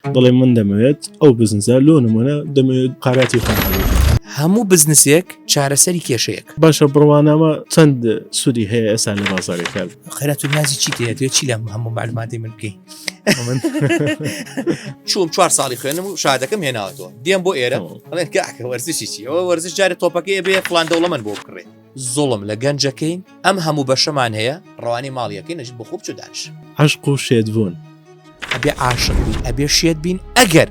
دەڵێ من دەمەوێت ئەو بزنزە لۆ نمونە دەمەوێت قاراتی خۆم هەموو بزنسێک چارەسەری کێشەیەک باشە بڕوانامە چەند سوودی هەیە ئێستا لە بازارێک کار خێرات و نازی چی تێت چی لەم هەموو معلوماتی من بکەی چوم چوار ساڵی خوێنم و شادەکەم هێناوەەوە دێم بۆ ئێرە ئەڵێن کاکە وەرزشی چی ئەوە وەرزش جارە تۆپەکەی بێ فلان دەوڵەمەند بۆ بکڕێت زوڵم لە گەنج ئەکەین ئەم هەموو بەشەمان هەیە ڕەوانەی ماڵی ئەکەین ئەژین بخۆ بچۆ دانیش. عەشق و شێتبوون. ئەبێ عاشق بین ئەبێ شێت بین ئەگەر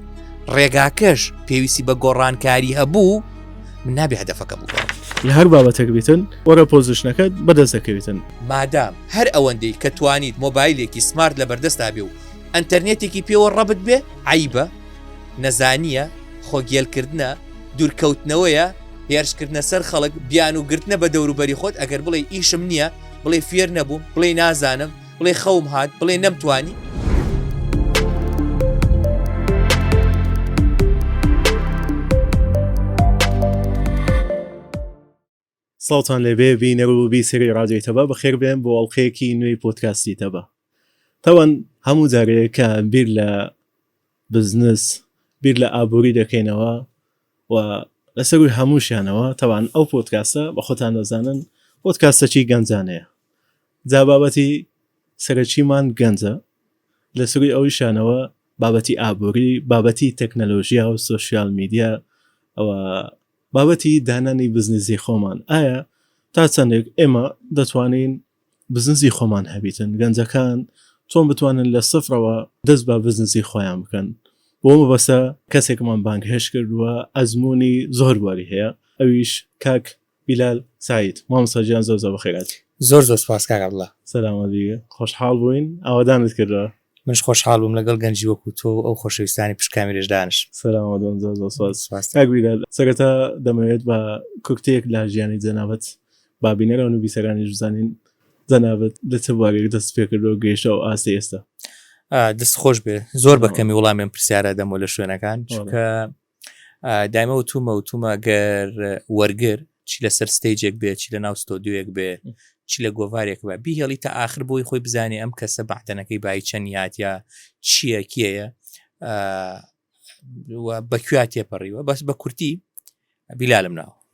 ڕێگاکەش پێویستی بە گۆڕانکاری هەبوو من نابێ هەدەفەکە بگۆڕم. لە هەر بابەتێک بیتن وەرە پۆزیشنەکەت بەدەست دەکەویتن. مادام هەر ئەوەندەی کە توانیت مۆبایلێکی سمارت لە بەردەستا بێ و ئەنتەرنێتێکی پێوە ڕەبت بێ عەیبە؟ نەزانییە؟ خۆگێلکردنە؟ دوورکەوتنەوەیە؟ هێرشکردنە سەر خەڵک بیان و گرتنە بە دەوروبەری خۆت ئەگەر بڵێ ئیشم نییە بڵێ فێر نەبوو بڵێ نازانم بڵێ خەوم هاات بڵێ نەمتوانی ساڵتان لەبێ بینەر و بیسری ڕادێتەبە بەخێر بێن بۆ ئەڵلقەیەکی نوێی پۆتکاسیتەبە تاوان هەموو جارەیە کە بیر لە بزنس، بیر لە ئابوری دەکەینەوە و لەسەر رووی هەمووشیانەوە تەبعەن ئەو پۆدکاستە بە خۆتان دەزانن پۆدکاستەکی گەنجانەیە جا بابەتی سەرەکیمان گەنجە لە سروی ئەویشانەوە بابەتی ئابوری بابەتی تەکنەلۆژیا و سوسیال میدیا ئەوە بابەتی دانانی بزنسی خۆمان ئایا تا چەندێک ئێمە دەتوانین بزنسی خۆمان هەبیتن گەنجەکان چۆن بتوانن لە سفرەوە دەست بە بزنسی خۆیان بکەن بۆ مەبەستە کەسێکمان بانگهێشت کردووە ئەزموونی زۆر بواری هەیە ئەویش کاک بیلال سەعید مامۆستا گیان زۆر زۆر بەخێرهاتی. زۆر زۆر سوپاس کاک عەبدوڵا. سەلامەت بی خۆشحاڵ بووین ئاوەدانت کردووە. منش خۆشحاڵ بووم لەگەڵ گەنجی وەکو تۆ و ئەو خۆشەویستانی پشت کامیرەش دانشم. سەلامات بن زۆر زۆر سوپاس سوپاس کاک بیلال سەرەتا دەمەوێت بە کوکتەیەک لە ژیانی جەنابت با بینەر و نووبیسەرانیش بزانین جەنابت لە چ بوارێک دەست پێ کردووە و گەیشتە ئەو ئاستەی ئێستا. دەست خۆش بێ زۆر بە کەمی وڵامی ئەم پرسیارە دەمەوە لە شوێنەکان چونکە دایمە وتومە وتومە گەر وەرگر چی لەسەر ستەیجێک بێ چی لە ناو ستۆدیوەک بێ چی لە گۆڤارێک بە بیهێڵی تا آخر بۆی خۆی بزانێ ئەم کەسە بەعتەنەکەی بای چەند یاد یا چییە کێیە بەکویا تێپەڕیوە بەس بە کورتی بیلالم ناوە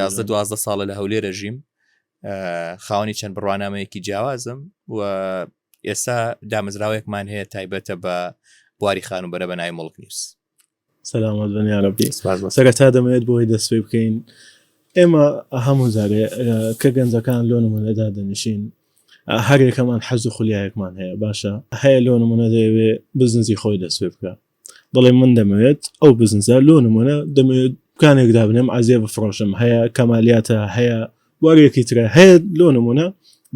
یازدە دوازدە ساڵە لە هەولێرە ژیم خاوەنی چەند بڕوانامەیەکی جیاوازم و ئێستا دامەزراوەیەکمان هەیە تایبەتە بە بواری خان و بەرە بە نای مڵک نیوز سەلامەت بەنیارەبی سەرە تا دەمەوێت بۆی دەستێ بکەین ئێمە هەموو زارێ کە گەنجەکان لۆ نمونەدا دەنیشین هەرێکەمان حەز و خولیایەکمان هەیە باشە هەیە لۆ نمونە دەیەوێ بزنزی خۆی دەسێ بکە دەڵێ من دەمەوێت ئەو بزنزە لۆ نمونە دەمەوێت دوکانێک دابنێم عزیێ بفرۆشم هەیە کەمالیاتە هەیە وەرێکی ترە هەیە لۆ نمونە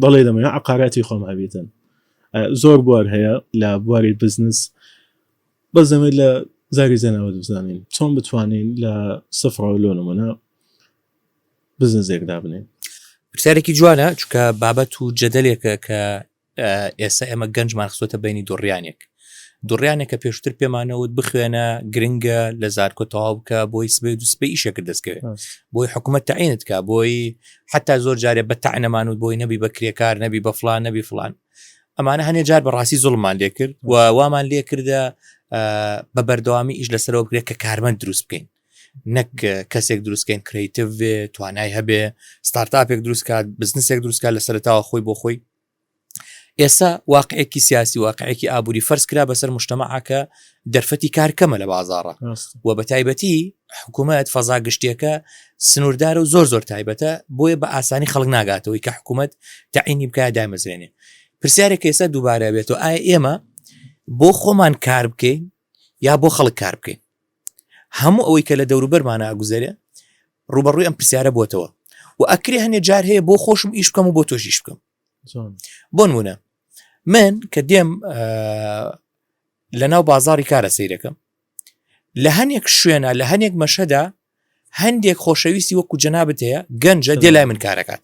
دەڵێ دەمەوێت عقاراتی خۆم هەبێتن زۆر بوار هەیە لە بواری بزنس بەس دەمێت لە زاری زەنەوە دەزانین چۆن بتوانین لە سفرەوە لۆ نمونە بزنزێک دابنێن پرسیارێکی جوانە چکە بابەت و جەدەلێکە کە ئێستا ئێمە گەنجمان خستۆتە بینی دوڕیانێک دوڕیانێک کە پێشتر پێمانەوت بخوێنە گرنگە لە زارکۆ تەواو بکە بۆی سبێ دو سپی ئیشەکرد دەستکەوێت بۆی حکوومەت تعینت کا بۆی حتا زۆر جارێ بە تەعنەمان و بۆی نەبی بە کرێکار نەبی بە فلان نەبی فلان ئەمانە هەنێ جار بەڕاستی زڵمان لێکرد و وامان لێکردە بە بەردەوامی ئیش لەسەرەوە بکرێت کە کارمەند دروست بکەین نەک کەسێک دروستکەین کرەیتڤ بێ توانای هەبێ ستارتاپێک دروست کات بزنسێک دروست کات لە سەرتاوە خۆی بۆ خۆی ئێستا واقعێکی سیاسی واقعێکی ئابووری فەرز کرا بەسەر مشتمەعکە دەرفەتی کارکەمە لە بازارڕە و بە تایبەتی حکوومەت فەزا گشتیەکە سنووردار و زۆر زۆر تایبەتە بۆیە بە ئاسانی خەڵک ناگاتەوەی کە حکوومەت تاعینی بکە دامەزرێنێ پرسیارێک ئێستا دووبارە بێت و ئایا ئێمە بۆ خۆمان کار بکەین یا بۆ خەڵک کار بکەین؟ هەموو ئەوەی کە لە دەوروبەرمانە ئەگوزەرێ ڕوبەڕووی ئەم پرسیارە بووتەوە و ئەکرێ هەنێ جار هەیە بۆ خۆشم ئیش بکەم و بۆ تۆشیش بکەم بۆن وونە من کە دێم لە ناو بازاری کارە سیرەکەم لە هەنێک شوێنە لە هەنێک مەشەدا هەندێک خۆشەویستی وەکو جەنابەت هەیە گەنجە دێ لای من کارەکات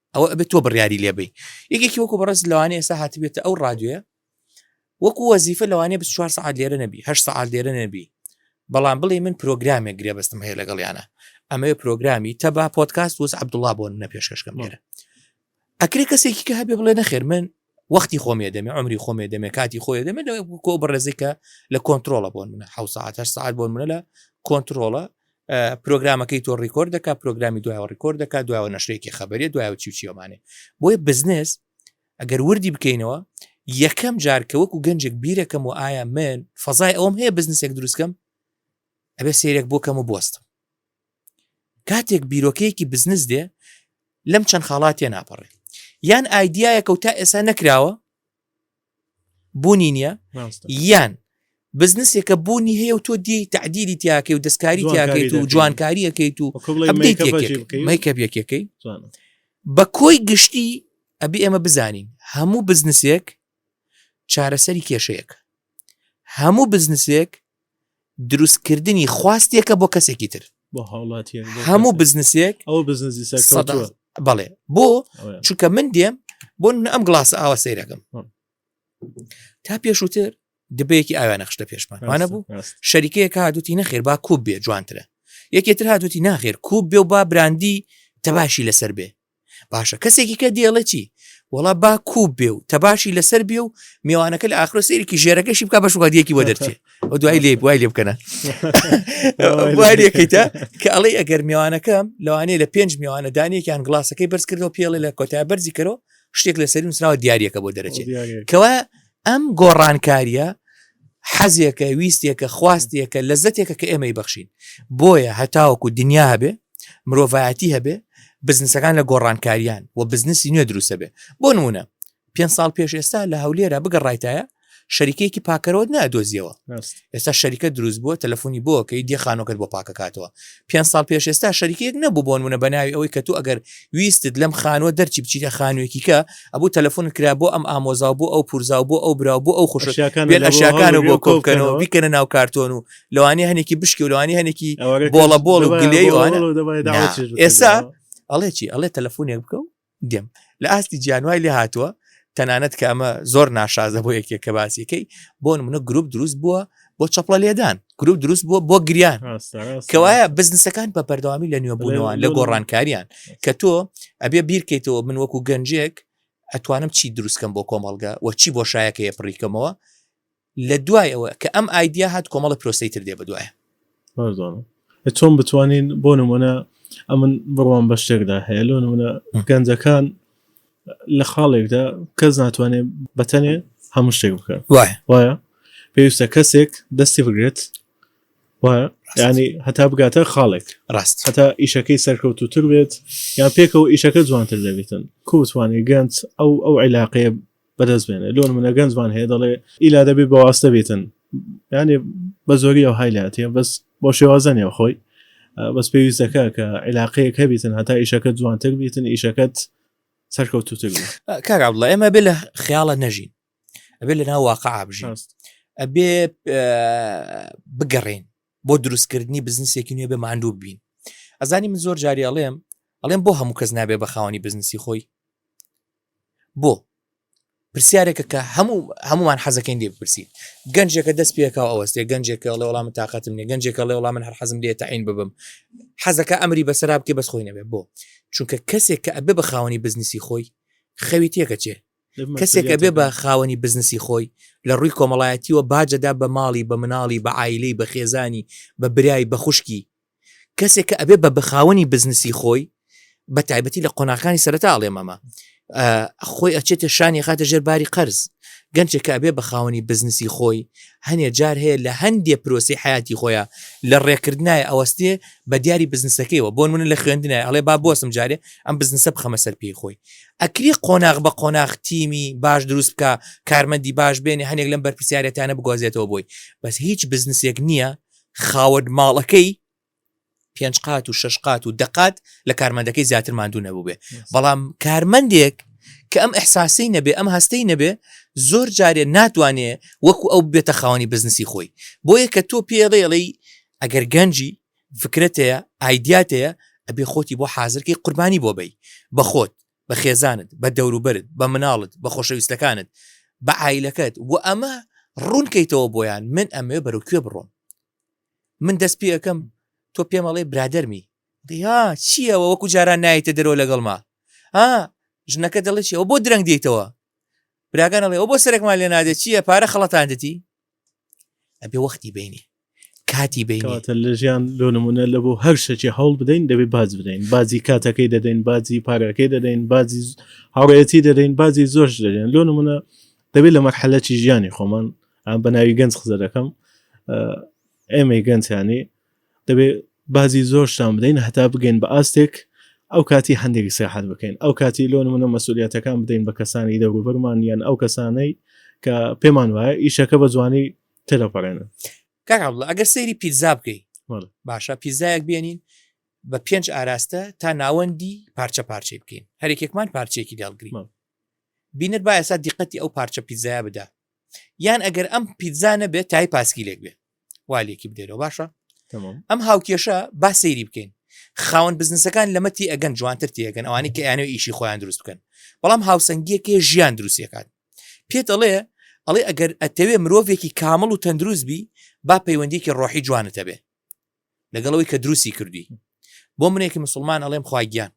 ئەوە ئەبێت تۆ بڕیاری لێبی یەکێکی وەکو بەڕێز لەوانێ ئێستا هاتبێتە ئەو ڕادوێ وەکو وەزیفە لەوانێ ب چوار سعات لێرە نەبی هە سعات لێرە نەبی بەڵام بڵێ من پرۆگرامێک گرێ بەستم هەیە لەگەڵیانە ئەمە پرۆگرامی تەبا پۆتکاست وز عبدوڵا بۆ نە پێشکەشکەم لێرە ئەکرێ کەسێکی کە هەبێ بڵێ نەخێر من وەختی خۆم یەدەمێ عومری خۆم یەدەمێ کاتی خۆ یەدەمێ لە کۆ بەڕێزێک کە لە کۆنتترۆڵە بۆن منە حو ساعت هەر ساعت بۆن منە لە کۆنتترۆڵە پرۆگرامەکەی تۆ ڕیکۆرد دەکا پرۆگرامی دوای ڕیکۆرد دەکا دوای نەشرێکی خبرێ دوای چی چیەمانێ بۆیە بزنس ئەگەر وردی بکەینەوە یەکەم جار کە وەکو گەنجێک بیرەکەم و ئایا من فەزای ئەوم هەیە بزنسێک دروستکەم ئەبێ سێرێک بۆکەم و بستم کاتێک بیرۆکەیەکی بزنس دێ لەم چەند خاڵات تێ ناپەڕێ یان ئایدایەکە و تا ئێسا نەکراوە بوونی نییە یان بزنسێکە بوونی هەیە و تۆ دی تعدیری تیاکەی و دەستکاری تیاکەیت و جوانکاریەکەیت و میکە یەکەکەی بە کۆی گشتی ئەبی ئێمە بزانین هەموو بزنسێک چارەسەری کێشەیەک هەموو بزنسێک دروستکردنی خواستێکە بۆ کەسێکی تر بۆ هاوڵاتیە هەموو بزنسێک ئەو بزنسی سەر بەڵێ بۆ چونکە من دێم بۆ من ئەم گڵاس ئاوە سەیرەکەم تا پێشووتر دبەیەکی ئاویان نەخشتە پێشمان وانە بوو شەریکەیە کاتوتی نەخێر با کوب بێ جوانترە یەکێتر هاتوتی ناخێر کوب بێ و با براندی تەباشی لەسەر بێ باشە کەسێکی کە دێڵێ چی وڵا با کوب بێ و تەباشی لەسەر بێ و میوانەکە لە ئاخرۆ سێرێکی ژێرەکەشی بکە بەش وادیەکی وە دەرچێت ئەو دوای لێ وای لێ بکەنە وارێکیتە کە ئەڵێ ئەگەر میوانەکەم لەوانەیە لە پێنج میوانە دانێکیان گڵاسەکەی بەرز کردەوە پێڵێ لە کۆتای بەرزی کەەوە شتێک لە سەری نووسراوە دیارەکە بۆ دەرەچێت کەوا ئەم گۆڕانکاریە حەزێکە ویستێکە خواستێکە لە زەتێکە کە ئێمەی بەخشین بۆیە هەتاوەکو دنیا هەبێ مرۆڤایەتی هەبێ بزنسەکان لە گۆڕانکاریان و بزنسی نوێ دروستە بێ بۆ نمونە پێ ساڵ پێش ئێستا لە هەولێرە بگەڕایتایە شەریکەیەکی پاکەرەوەت نادۆزیەوە ئێستا شەریکە دروست بووە تەلەفۆنی بۆکەی دی خانۆکەت بۆ پاکەکاتەوە پێ ساڵ پێش ئێستا شەریکێک نەبوو بۆن منە بەناوی ئەوەی کە تو ئەگەر ویستت لەم خانوە دەرچی بچیتە خانوێکی کە ئەبوو تەلەفۆن کرا بۆ ئەم ئامۆزا بۆ ئەو پورزا بۆ ئەو برا بۆ ئەو خوشەکان بۆ کۆکەنەوە بیکەنە ناو کارتۆن و لەوانی هەنێکی بشکی و لەوانی هەنێکی بۆڵە بۆڵ و گلێ ئێسا ئەڵێ چی ئەڵێ تەلەفۆنێک بکە و دێم لە ئاستی جیانوای لێ هاتووە تەنانەت کە ئەمە زۆر ناشازە بۆ یەکێک کە باسیەکەی بۆ منە گروپ دروست بووە بۆ چەپڵە لێدان گروپ دروست بووە بۆ گریان کەوایە بزنسەکان بە بەردەوامی لە نوێبوونەوە لە گۆڕانکاریان کە تۆ ئەبێ بیرکەیتەوە من وەکو گەنجێک ئەتوانم چی دروستکەم بۆ کۆمەڵگە و چی بۆ شایەکەیە پڕیکەمەوە لە دوای ئەوە کە ئەم ئایدیا هات کۆمەڵە پرۆسەی تر دێ بەدوایە. بەردوانە چۆن بتوانین بۆ نمونە ئەمن بڕوان بە شتێکدا هەیە لۆ نمونە گەنجەکان لە خاڵێکدا کەس ناتوانێت بەتەنێ هەموو شتێک بکە وایە پێویستە کەسێک دەستی بگرێت وایە ینی هەتا بگاتە خاڵێک ڕاست هەتا ئیشەکەی سەرکەوتوتر بێت یان پێکەوە ئیشەکە جوانتر دەبێتن کوتوانێت گەنج ئەو ئەو عیلاقەیە بەدەست بێنێ لۆن منە گەنجمان هەیە دەڵێ ئیلا دەبێ بەواستە بێتن یانێ بە زۆری ئەو هایلاتە بەس بۆ شێوازە نێو خۆی بەس پێویستەکە کە عیلاقەیە کە بیتن هەتا ئیشەکە جوانتر بیتن ئیشەکەت سەرکەوتوتر کارا بڵە ئێمە بێ لە خیاڵە نەژین ئەبێ لە ناو واقع بژاست ئەبێ بگەڕین بۆ دروستکردنی بزنسێکی نوێ بێ ماندوو ببین ئەزانی من زۆر جاری ئەڵێم ئەڵێم بۆ هەموو کەس نابێ بە خاوەنی بزنسی خۆی بۆ پرسیارێکە کە هەموو هەمومان حەزەکەین لێ بپرسین گەنجێکە دەست پێکاو ئەوەستێ گەنجێکە ڵێ وڵام تااقەتم نیە گەنجێکە ڵێ وڵام من هەر حەزم لێ تاین ببم حەزەکە ئەمری بەسەراب کە بەس خۆی نەبێ بۆ چونکە کەسێک کە ئەبێ بە خاوەنی بزنسی خۆی خەوی تێکەچێ کەسێک ئەبێ بە خاوەنی بزنسی خۆی لە ڕووی کۆمەڵایەتیوە باجەدا بە ماڵی بە مناڵی بە عیلەی بە خێزانی بە برای بە خوشکی کەسێک کە ئەبێ بە بەخاوەنی بزنسی خۆی بە تایبەتی لە قۆناکانی سەرتا ئاڵێ مەمە خۆی ئەچێتە شانی خاتە ژێر باری قەرز گەنجێک کە ئەبێ بە خاوەنی بزنسی خۆی هەنێ جار هەیە لە هەندێ پرۆسی حیاتی خۆیان لە ڕێکردنای ئەوەستێ بە دیاری بزنسەکەیەوە بۆن منە لە خوێندنای ئەڵێ با بۆسم جارێ ئەم بزنسە بخەمە سەر پێی خۆی ئەکری قۆناغ بە قۆناغ تیمی باش دروست بکا کارمەندی باش بێنێ هەنێک لەم بەرپرسیارێتانە بگوازێتەوە بۆی بەس هیچ بزنسێک نییە خاوەن ماڵەکەی پێنج قات و شش قات و دەقات لە کارمەندەکەی زیاتر ماندوو نەبووبێ بەڵام کارمەندێک کە ئەم احساسی نەبێ ئەم هەستەی نەبێ زۆر جارێ ناتوانێ وەکو ئەو بێتە خاوەنی بزنسی خۆی بۆیە کە تۆ پێڵێڵی ئەگەر گەنجی فکرەت هەیە ئایدیات هەیە ئەبێ خۆتی بۆ حازر کەی قوربانی بۆ بەی بە خۆت بە خێزانت بە دەوروبەرت بە مناڵت بە خۆشەویستەکانت بە عیلەکەت و ئەمە ڕوونکەیتەوە بۆیان من ئەمەوێ بەرەو کوێ بڕۆم من دەست پێ ئەەکەم تۆ پێمەڵێ برادەرمی دیا چییەوە وەکو جاران نایتە دەرەوە لەگەڵما ها ژنەکە دەڵێ چیەوە بۆ درەنگ دێتەوە براگانەڵێ ئەو بۆ سەرێکمان لێ نادێت چییە پارە خەڵەتاندەتی ئەبێ وەختی بینی کاتی بینتە لە ژیان لۆ نمونە لە بۆ هەر شەکی هەوڵ بدەین دەبێ باز بدەین بازی کاتەکەی دەدەین بازی پارەکەی دەدەین بازی هاوڕێتی دەدەین بازی زۆر دەدەین لۆ نمونە دەبێت لە مەرحەلەتی ژیانی خۆمان ئەم بە ناوی گەنج قزە دەکەم ئێمەی گەنجانی دەبێ بازی زۆرشتان بدەین هەتا بگەین بە ئاستێک ئەو کاتی هەندێک سیاحەت بکەین ئەو کاتی لۆن منە مەسوولەتەکان بدەین بە کەسانی دەوروبەرمان یان ئەو کەسانەی کە پێمان وایە ئیشەکە بە جوانی تێدەپەڕێنن کاکڵە ئەگەر سەیری پیزا بکەی باشە پیزایەک بێنین بە پێنج ئاراستە تا ناوەندی پارچە پارچەی بکەین هەرێکێکمان پارچێکی داڵگرین بینەر با ئێستا دیقەتی ئەو پارچە پیززایە بدا یان ئەگەر ئەم پیززانە بێت تای پاسکیلێک بێت والێکی بدەرەوە باشە ئەم هاوکێشە با سەیری بکەین خاوەن بزنسەکان لەمە تی ئەگەن جوانتر تێگەن ئەوانی کە یانەوە ئیشی خۆیان دروست بکەن بەڵام هاوسەنگیەکێ ژیان دروستەکان پێت ئەڵێ ئەڵێ ئەگەر ئەتەوێ مرۆڤێکی کامل و تەندروست بی با پەیوەندیکی ڕۆحی جوانتەبێ لەگەڵەوەی کە دروستی کردی بۆ منێکی مسلمان ئەڵێم خواگیان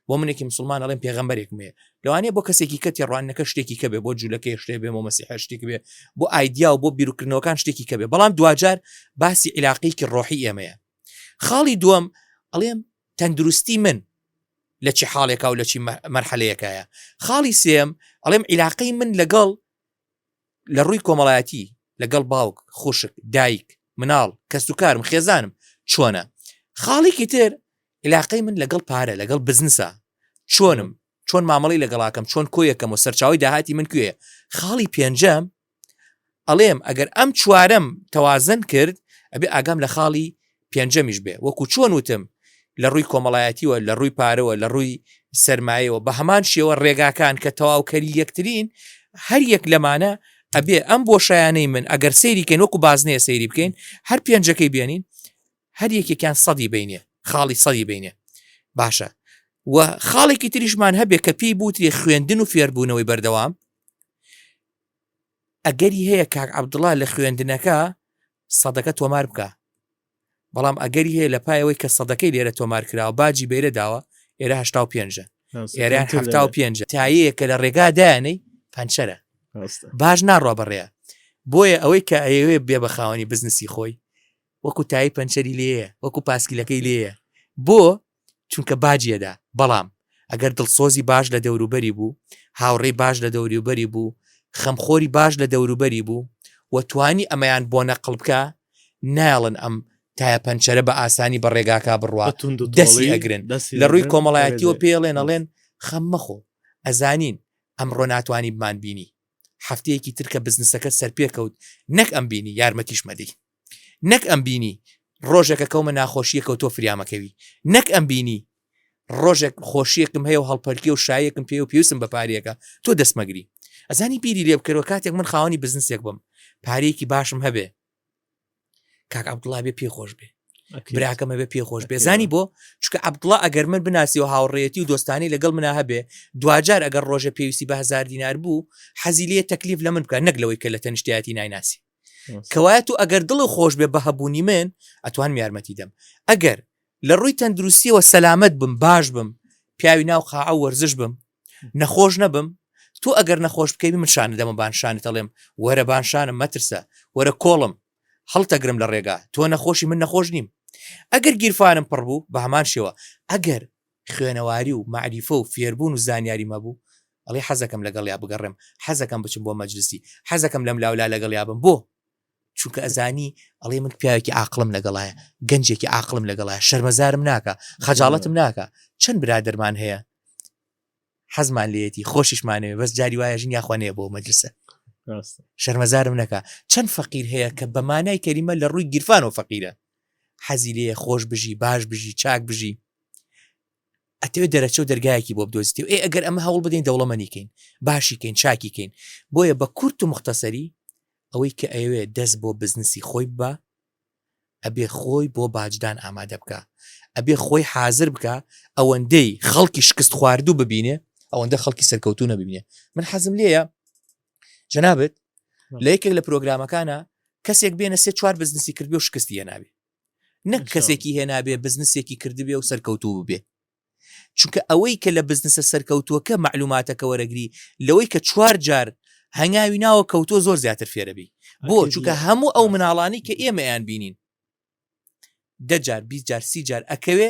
بۆ منێکی مسلمان ئەڵێن پێغمبەرێکم هەیە لەوانەیە بۆ کەسێکی کە تێڕوانەکە شتێکی کە بێ بۆ جوولەکەی شتێ بێ بۆ مەسیحە شتێک بێ بۆ ئایدیا و بۆ بیرکردنەوەکان شتێکی کە بێ بەڵام دواجار باسی عیلاقیکی ڕۆحی ئێمەیە خاڵی دووەم ئەڵێم تەندروستی من لە چی حاڵێکا و لە چی مەرحەلەیەکایە خاڵی سێم ئەڵێم عیلاقەی من لەگەڵ لە ڕووی کۆمەڵایەتی لەگەڵ باوک خوشک دایک مناڵ کەس و کارم خێزانم چۆنە خاڵێکی تر علاقەی من لەگەڵ پارە لەگەڵ بزنسە چۆنم چۆن مامەڵی لەگەڵاکەم چۆن کۆیەکەم و سەرچاوی داهاتی من کوێ خاڵی پێنجەم ئەڵێم ئەگەر ئەم چوارم تەوازن کرد ئەبێ ئاگام لە خاڵی پێنجەمیش بێ وەکو چۆن وتم لە ڕووی کۆمەڵایەتیوە لە ڕووی پارەوە لە ڕووی سرمایەوە بە هەمان شێوە ڕێگاکان کە تەواوکەری یەکترین هەر یەک لەمانە ئەبێ ئەم بۆ شایانەی من ئەگەر سەیریکەن وەکو بازنێ سەیری بکەین هەر پێنجەکەی بێنین هەر یەکێکیان سەدی بینێ خاڵی سەدی بینێ باشە و خاڵێکی تریشمان هەبێ کە پێی بوتری خوێندن و فێربوونەوەی بەردەوام ئەگەری هەیە کاک عەبدوڵا لە خوێندنەکە سەدەکە تۆمار بکا بەڵام ئەگەری هەیە لە پایەوەی کە سەدەکەی لێرە تۆمار کراوە باجی بەیرە داوە ئێرە هشتا و پێنجە ئێریان هەفتا و پێنج تایەیە کە لە ڕێگا دایانەی پەنچەرە باش ناڕوا بەڕێە بۆیە ئەوەی کە ئەیەوێ بێ بە خاوەنی بزنسی خۆی وەکو تایی پەنچەری لێە وەکو پاسکیلەکەی لێە بۆ چونکە باجی ئەدا، بەڵام ئەگەر دڵسۆزی باش لە دەوروبەری بوو، هاوڕێی باش لە دەوروبەری بوو، خەمخۆری باش لە دەوروبەری بوو و توانی ئەمەیان بۆ نەقڵ بکا، نایەڵن ئەم تایە پەنچەرە بە ئاسانی بە ڕێگاکا بڕوا، دەسی ئەگرن، لە ڕووی کۆمەڵایەتییەوە پێیڵێن، ئەڵێن، خەم مەخۆ، ئەزانین ئەمڕۆ ناتوانی بمانبینی، هەفتەیەکی تر کە بزنسەکەت سەرپێکەوت، نەک ئەمبینی، یارمەتیش مەدەی. نەک ئەم بینی ڕۆژێکە کەومە ناخۆشیە کەوتۆ فریامەکەوی نەک ئەم بینی ڕۆژێک خۆشیەکم هەیە و هەڵپەرکی و شایەکم پێ و پێویستم بە پارێکە تۆ دەستمەگری ئەزانی بیری لێ بکەرەوە کاتێک من خاوەنی بزنسێک بم پارێکی باشم هەبێ کاک عبدڵا بێ پێ خۆش بێ براکەمە بێ پێ خۆش بێ زانی بۆ چکە عبدڵا ئەگەر من بناسی و هاوڕێتی و دۆستانی لەگەڵ منا هەبێ دوجار ئەگەر ڕۆژە پێویستی بە هزار دینار بوو حەزی لێ تەکلیف لە من بکە نەک لەوەی کە لە تەنیشتایەتی نایناسی کەوایەت و ئەگەر دڵ و خۆش بێ بە هەبوونی من ئەتوانم یارمەتی دەم ئەگەر لە ڕووی تەندروستیەوە سەلامت بم باش بم پیاوی ناو قاعە وەرزش بم نەخۆش نەبم تۆ ئەگەر نەخۆش بکەی من شانە دەمە بانشانە دەڵێم وەرە بانشانم مەترسە وەرە کۆڵم هەڵتەگرم لە ڕێگا تۆ نەخۆشی من نەخۆش نیم ئەگەر گیرفانم پڕ بوو بە هەمان شێوە ئەگەر خوێنەواری و مەعریفە و فێربوون و زانیاریم هەبوو، ئەڵێی حەزەکەم لەگەڵیا بگەڕێم، حەزەکەم بچم بۆ مەجلسی، حەزەکەم لەملاولا لەگەڵیا بم، بۆ؟ چونکە ئەزانی، ئەڵێی من پیاوێکی عاقڵم لەگەڵایە، گەنجێکی عاقڵم لەگەڵایە، شەرمەزارم ناکا، خەجاڵەتم ناکا، چەند برادەرمان هەیە، حەزمان لێتی خۆشیشمانەوێ بەس جاری وایە ژین یاخوا نەیە بۆ مەدرسە شەرمەزارم نەکە چەند فەقیر هەیە کە بە مانای کەریمە لە ڕووی گیرفان و فەقیرە حەزی لێ خۆش بژی باش بژی چاک بژی ئەتەوێت دەرەچە و دەرگایەکی بۆ بدۆزیتی و ئێ ئەگەر ئەمە هەوڵ بدەین دەوڵەمەنیکەین باشیکەین چاکیکەین بۆیە بە کورت و مختصری ئەوەی کە ئەوێ دەست بۆ بزنسی خۆی بە ئەبێ خۆی بۆ باجدان ئامادە بکا ئەبێ خۆی حازر بکە ئەوەندەی خەڵکی شکست خواردوو ببینێ ئەوەندە خەڵکی سەرکەوتو نەبینێ من حەزم لێە جەنابێت لە یەکێک لە پرۆگرامەکانە کەسێک بێنە سێ چوار بزنسی کردبێ و شکستی هێناوی نەک کەسێکی هێنابێ بزنسێکی کردبێ و سەرکەوتوو بێ چونکە ئەوەی کە لە بزنسە سەرکەوتووەکە مەعلوماتەکە وەرەگری لەوەی کە چوار جار هەنگاوی ناوە کەوتووە زۆر زیاتر فێرەبی بۆ چونکە هەموو ئەو مناڵانی کە ئێمەیان بینین دەجار بی جار سی جار ئەکەوێ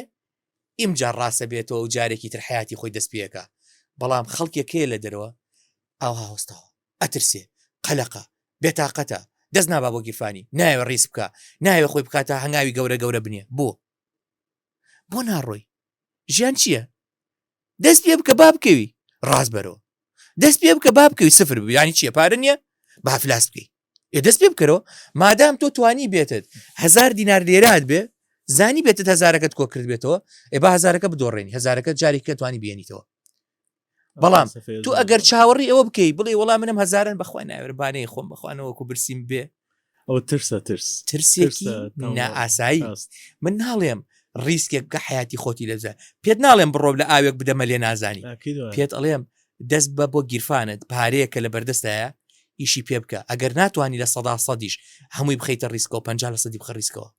ئیمجار ڕاستە بێتەوە و جارێکی تر حیاتی خۆی دەستپێکە بەڵام خەڵکێکەیە لە دەرەوە ئاها هۆستاوە ئەترسێ قەلەقە بێتاقەتە دەست نابا بۆ گیرفانی ناوێ ڕیس بکە ناوێ خۆی بکاتە هەنگاوی گەورە گەورە بنیە بۆ بۆ ناڕۆی ژیان چییە دەست پێ بکە با بکەوی ڕاست بەرەوە دەست پێ بکە با بکەوی سفر بیانی چیە پارە نییە بافلاس بکەی ئێ دەست پێ بکەرەوە مادام تۆ توانی بێتت هزار دینار لێرات بێ زانی بێتت هزارەکەت کۆ کرد بێتەوە ئێ با هزارەکە بدۆڕێنی هزارەکە جارێککە توانی بێنیتەوە بەڵام تو ئەگەر چاوەڕی ئەوە بکەی بڵێ وەڵام منم هزارن بەخوای ناوێربانەی خۆم بخوانەوەکو برسیم بێ ئەو ترسە ترس ترسێکی نائاسایی من ناڵێم ریسکێک کە حیاتی خۆتی لەزە پێت ناڵێم بڕۆ لە ئاوێک بدەمە لێ نازانی پێت ئەڵێم دەست بە بۆ گیرفانت پارەیە کە لە بەردەستایە ئیشی پێ بکە ئەگەر ناتوانانی لە سەدا سەدیش هەمووی بخیتە ریسکەوە پ لە سەدی بخە ریسکەوە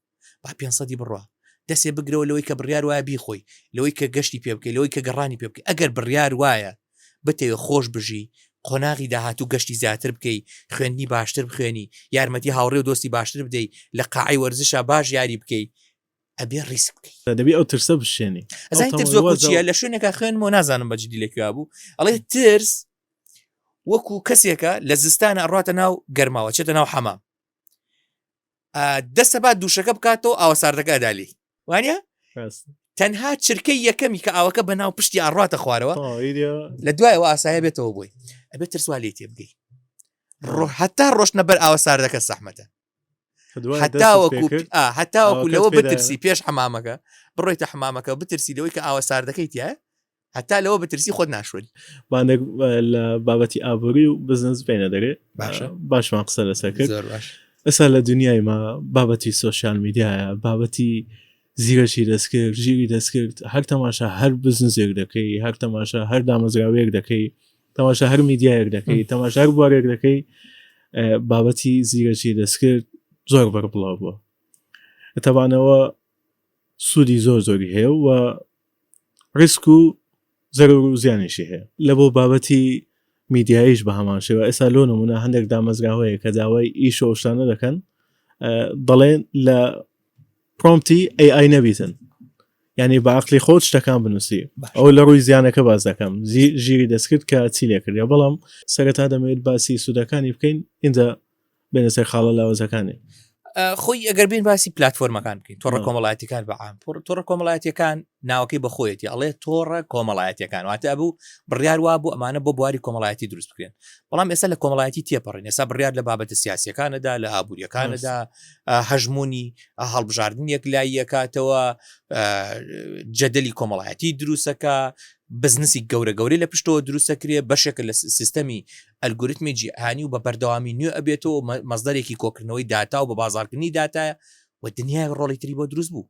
با پێنج سەدی بڕوا دەسێ بگرەوە لەوەی کە بڕیار وایە بیخۆی لەوەی کە گەشتی پێ بکەی لەوەی کە گەڕانی پێ بکەی ئەگەر بڕیار وایە بتەوێ خۆش بژی قۆناغی داهاتوو گەشتی زیاتر بکەی خوێندنی باشتر بخوێنی یارمەتی هاوڕێ و دۆستی باشتر بدەی لە قاعی وەرزشە باش یاری بکەی ئەبێ ڕیسک بکەی دەبی ئەو ترسە بشێنی ئەزای تر زۆکوچیە لە شوێنێکە خوێنم و نازانم بەجددی لەکوێ بوو ئەڵێ ترس وەکو کەسێکە لە زستانە ئەڕاتە ناو گەرماوە چێتە ناو حەمام دەسە با دووشەکە بکاتەوە ئاوە ساردەکە دالی وانە تەنها چرکەی یەکەمی کە ئاوەکە بە ناو پشتی ئاڕاتە خوارەوە لە دوایەوە ئاسایە بێتەوە بووی ئەبێت ترسوا لێ تێ بگەی هەتا ڕۆشنە بەر ئاوە ساردەکە سەحمەتە هەتاوەکو هەتاوەکو لەوە بترسی پێش حمامەکە بڕۆیتە حمامەکە بترسی لەوەی کە ئاوە ساردەکەی تایە هەتا لەوە بترسی خۆت ناشوێت بانێک لە بابەتی ئابووری و بزنس بینە دەرێ باشە باشمان قسە لەسەر کرد زۆر باش ئەسا لە دنیای ما بابەتی سوۆسیال میدیایە بابەتی زیرەشی دەستکرد ژیری دەستکرد هەر تەماشا هەر بزنزێک دەکەی هەر تەماشا هەر دامەزراوەیەک دەکەی تەماشا هەر میدیایەک دەکەی تەماشا هەر بوارێک دەکەی بابەتی زیرەکی دەستکرد زۆر بەر بڵاو بووە تەبانەوە سوودی زۆر زۆری هەیە و ریسک و زەرەر و زیانیشی هەیە لە بۆ بابەتی میدیاییش بە هەمان شێوە ئێستا لۆ نمونە هەندێک دامەزرا هەیە کە داوای ئیش و شتانە دەکەن دەڵێن لە پرۆمتی AI نەبیتن یعنی بە عقلی خۆت شتەکان بنووسی ئەو لە ڕووی زیانەکە باز دەکەم ژیری دەستکرد کە چی لێکرد یا بەڵام سەرەتا دەمەوێت باسی سوودەکانی بکەین اینجا بێنە سەر خاڵە لاوەزەکانێ خۆی ئەگەر بین باسی پلتفۆرمەکان بکەین تۆڕە کۆمەڵاتیەکان بەعام تۆڕە کۆمەڵاتیەکان ناوەکەی بەخۆیەتی ئەڵێ تۆڕە کۆمەڵایەتەکان واتە بوو بڕیار وا بوو ئەمانە بۆ بواری کۆمەڵایەتی دروست بکرێن بەڵام ئێستا لە کۆمەڵایەتی تێپەڕین ئێستا بڕیار لە بابەتە سیاسەکانەدا لە ئابوووریەکانەدا هەژمونی هەڵبژاردن یەک لاییەکاتەوە جەدەلی کۆمەڵایەتی دروستەکە بزنسی گەورە گەورەی لە پشتەوە دروستەکرێ بەشێکە لە سیستەمی ئەلگۆریتمی جیهانی و بە بەردەوامی نوێ ئەبێتەوە و مەزدەرێکی کۆکردنەوەی داتا و بە بازاڕکردنی داتایە و دنیای ڕۆڵی تری بۆ دروست بوو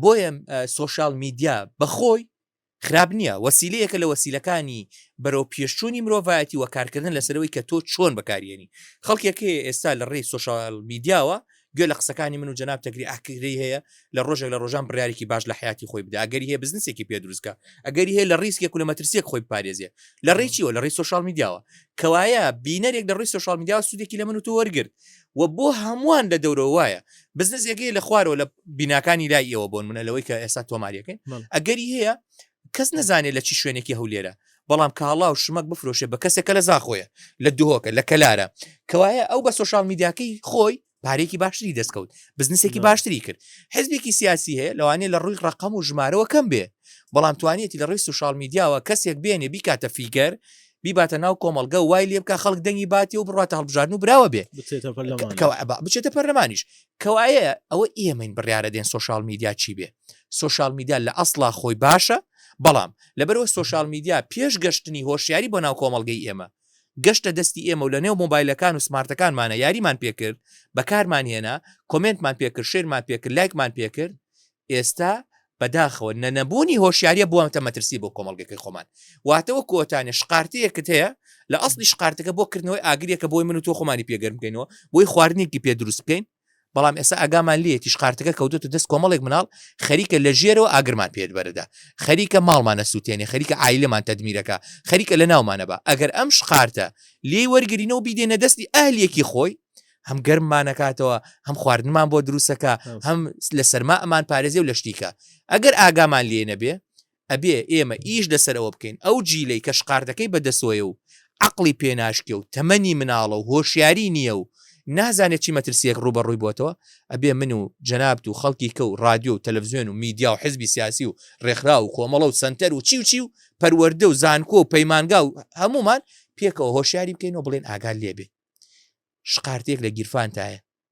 بۆیە سوۆشال میدیا بەخۆی خراپ نییە وەسیلەیەکە لە وەسیلەکانی بەرەو پێشچوونی مرۆڤایەتی و کارکردن لەسەرەوەی کە تۆ چۆن بەکارێنی خەڵکێکی ئێستا لە ڕێی سوۆشال میدیاوە گوێ لە قسەکانی من و جناب تەگری ئاکری هەیە لە ڕۆژێک لە ڕۆژان بڕارێکی باش لە حیاتی خۆی بدا ئەگەری هەیە بزنسێکی پێ دروستکە ئەگەری هەیە لە ڕیسکێک و لە مەترسیەک خۆی پارێزیێ لە ڕێکیەوە لە ڕێی سوشال میدیاوە کەوایە بینەرێک لە ڕێی سوشال میدیا سوودێکی لە من و تۆ وەرگرت و بۆ هەمووان لە دەورەوە وایە بزنسێکی لە خوارەوە لە بیناکانی لای ئێوە بۆن منە لەوەی کە ئێستا تۆماریەکەین ئەگەری هەیە کەس نەزانێ لە چی شوێنێکی هەولێرە بەڵام کاڵا و شمەک بفرۆشێ بە کەسێک کە لە زاخۆیە لە دهۆکە لە کەلارە کەوایە ئەو بە سۆشال میدیاکەی خۆی پارێکی باشتری دەستکەوت بزنسێکی باشتری کرد حزبێکی سیاسی هەیە لەوانێ لە ڕووی ڕقم و ژمارەوە کەم بێ بەڵام توانێتی لە ڕووی سوشال میدیاوە کەسێک بێنێ بیکاتە فیگەر بیباتە ناو کۆمەلگە وای لێ بکە خەڵک دەنگی باتی و بڕاتە هەڵبژارن و براوە بێ بچێتە پەرلەمانیش کەوایە ئەوە ئێمەین بڕیاە دێن سوشال میدیا چی بێ سۆشیال میدیا لە ئەسڵا خۆی باشە، بەڵام لەبەرئەوەی سۆشیال میدیا پێش گەشتنی هۆشیاری بۆ ناو کۆمەڵگەی ئێمە، گەشتە دەستی ئێمە و لەنێو مۆبایلەکان و سمارتەکانمانە یاریمان پێکرد، بەکارمان هێنا، کۆمێنتمان پێکرد، شەیرمان پێکرد، لایکمان پێکرد، ئێستا بەداخەوە نە نەبوونی هۆشیاریە بووەتە مەترسی بۆ کۆمەڵگەکەی خۆمان. واتە وەکو ئەوتانێ شقارتەیەکت هەیە، لە ئەسڵی شقارتەکە بۆ کردنەوەی ئاگرێکە بۆی من و تۆ خۆمانی پێ گەرم بکەینەوە، بۆی خواردنێکی پێ دروست بکەین، بەڵام ئێستا ئاگامان لێ تیش قارتەکە کەوتوتە دەست کۆمەڵێک مناڵ خەریکە لە ژێرەوە ئاگرمان پێت بەرەدا خەریکە ماڵمانە سووتێنێ خەریکە ئایلمان تەدمیرەکە خەریکە لە ناومانە بە ئەگەر ئەم شقارتە لێ وەرگرینەوە بیدێنە دەستی ئەهلیەکی خۆی هەم گەرممانەکاتەوە هەم خواردنمان بۆ دروستەکە هەم لە سەرما ئەمان پارێزی و لە شتیکە ئەگەر ئاگامان لێ نەبێ ئەبێ ئێمە ئیش لەسەر ئەوە بکەین ئەو جیلەی کە شقارتەکەی بە دەسۆیە و عەقڵی پێ ناشکێ و تەمەنی مناڵە و هۆشیاری نییە و نازانێ چی مەترسییەک ڕووبەڕووی بۆتەوە، ئەبێ من و جەنابت و خەڵکی کە و ڕادیۆ و تەلەفزیۆن و میدیا و حزبی سیاسی و ڕێکخراو و کۆمەڵە و سەنتەر و چی و چی و پەروەردە و زانکۆ و پەیمانگا و هەموومان پێکەوە هۆشیاری بکەین و بڵێین ئاگات لێ بێ شقارتەیەک لە گیرفانتایە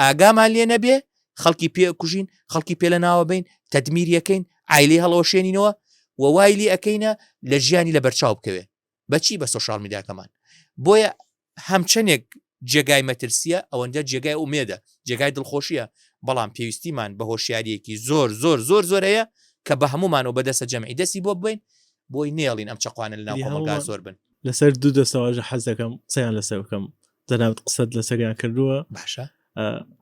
ئاگامان لێ نەبێ خەڵکی پێ کوژین خەڵکی پێ لە ناوە بین تەدمیریەکەین ئایلی هەڵەوەشێنینەوە و وایلی ئەەکەینە لە ژیانی لە بەرچاو بکەوێ بەچی بە سوۆشال میداکەمان بۆیە هەمچەندێک جێگای مەترسیە ئەوەندە جێگای ئومێدە جێگای دڵخۆشیە بەڵام پێویستیمان بە هۆشیارەکی زۆر زۆر زۆر زۆر هەیە کە بە هەمومان و بەدەسە جەمعی دەستی بۆ بین بۆی نێڵین ئەم چقوانە لە ناوگا زۆر بن لەسەر دوو دەستەواژە حەز دەکەم قسەیان لەسەر بکەم جەنابت قسەت لەسەریان کردووە باشە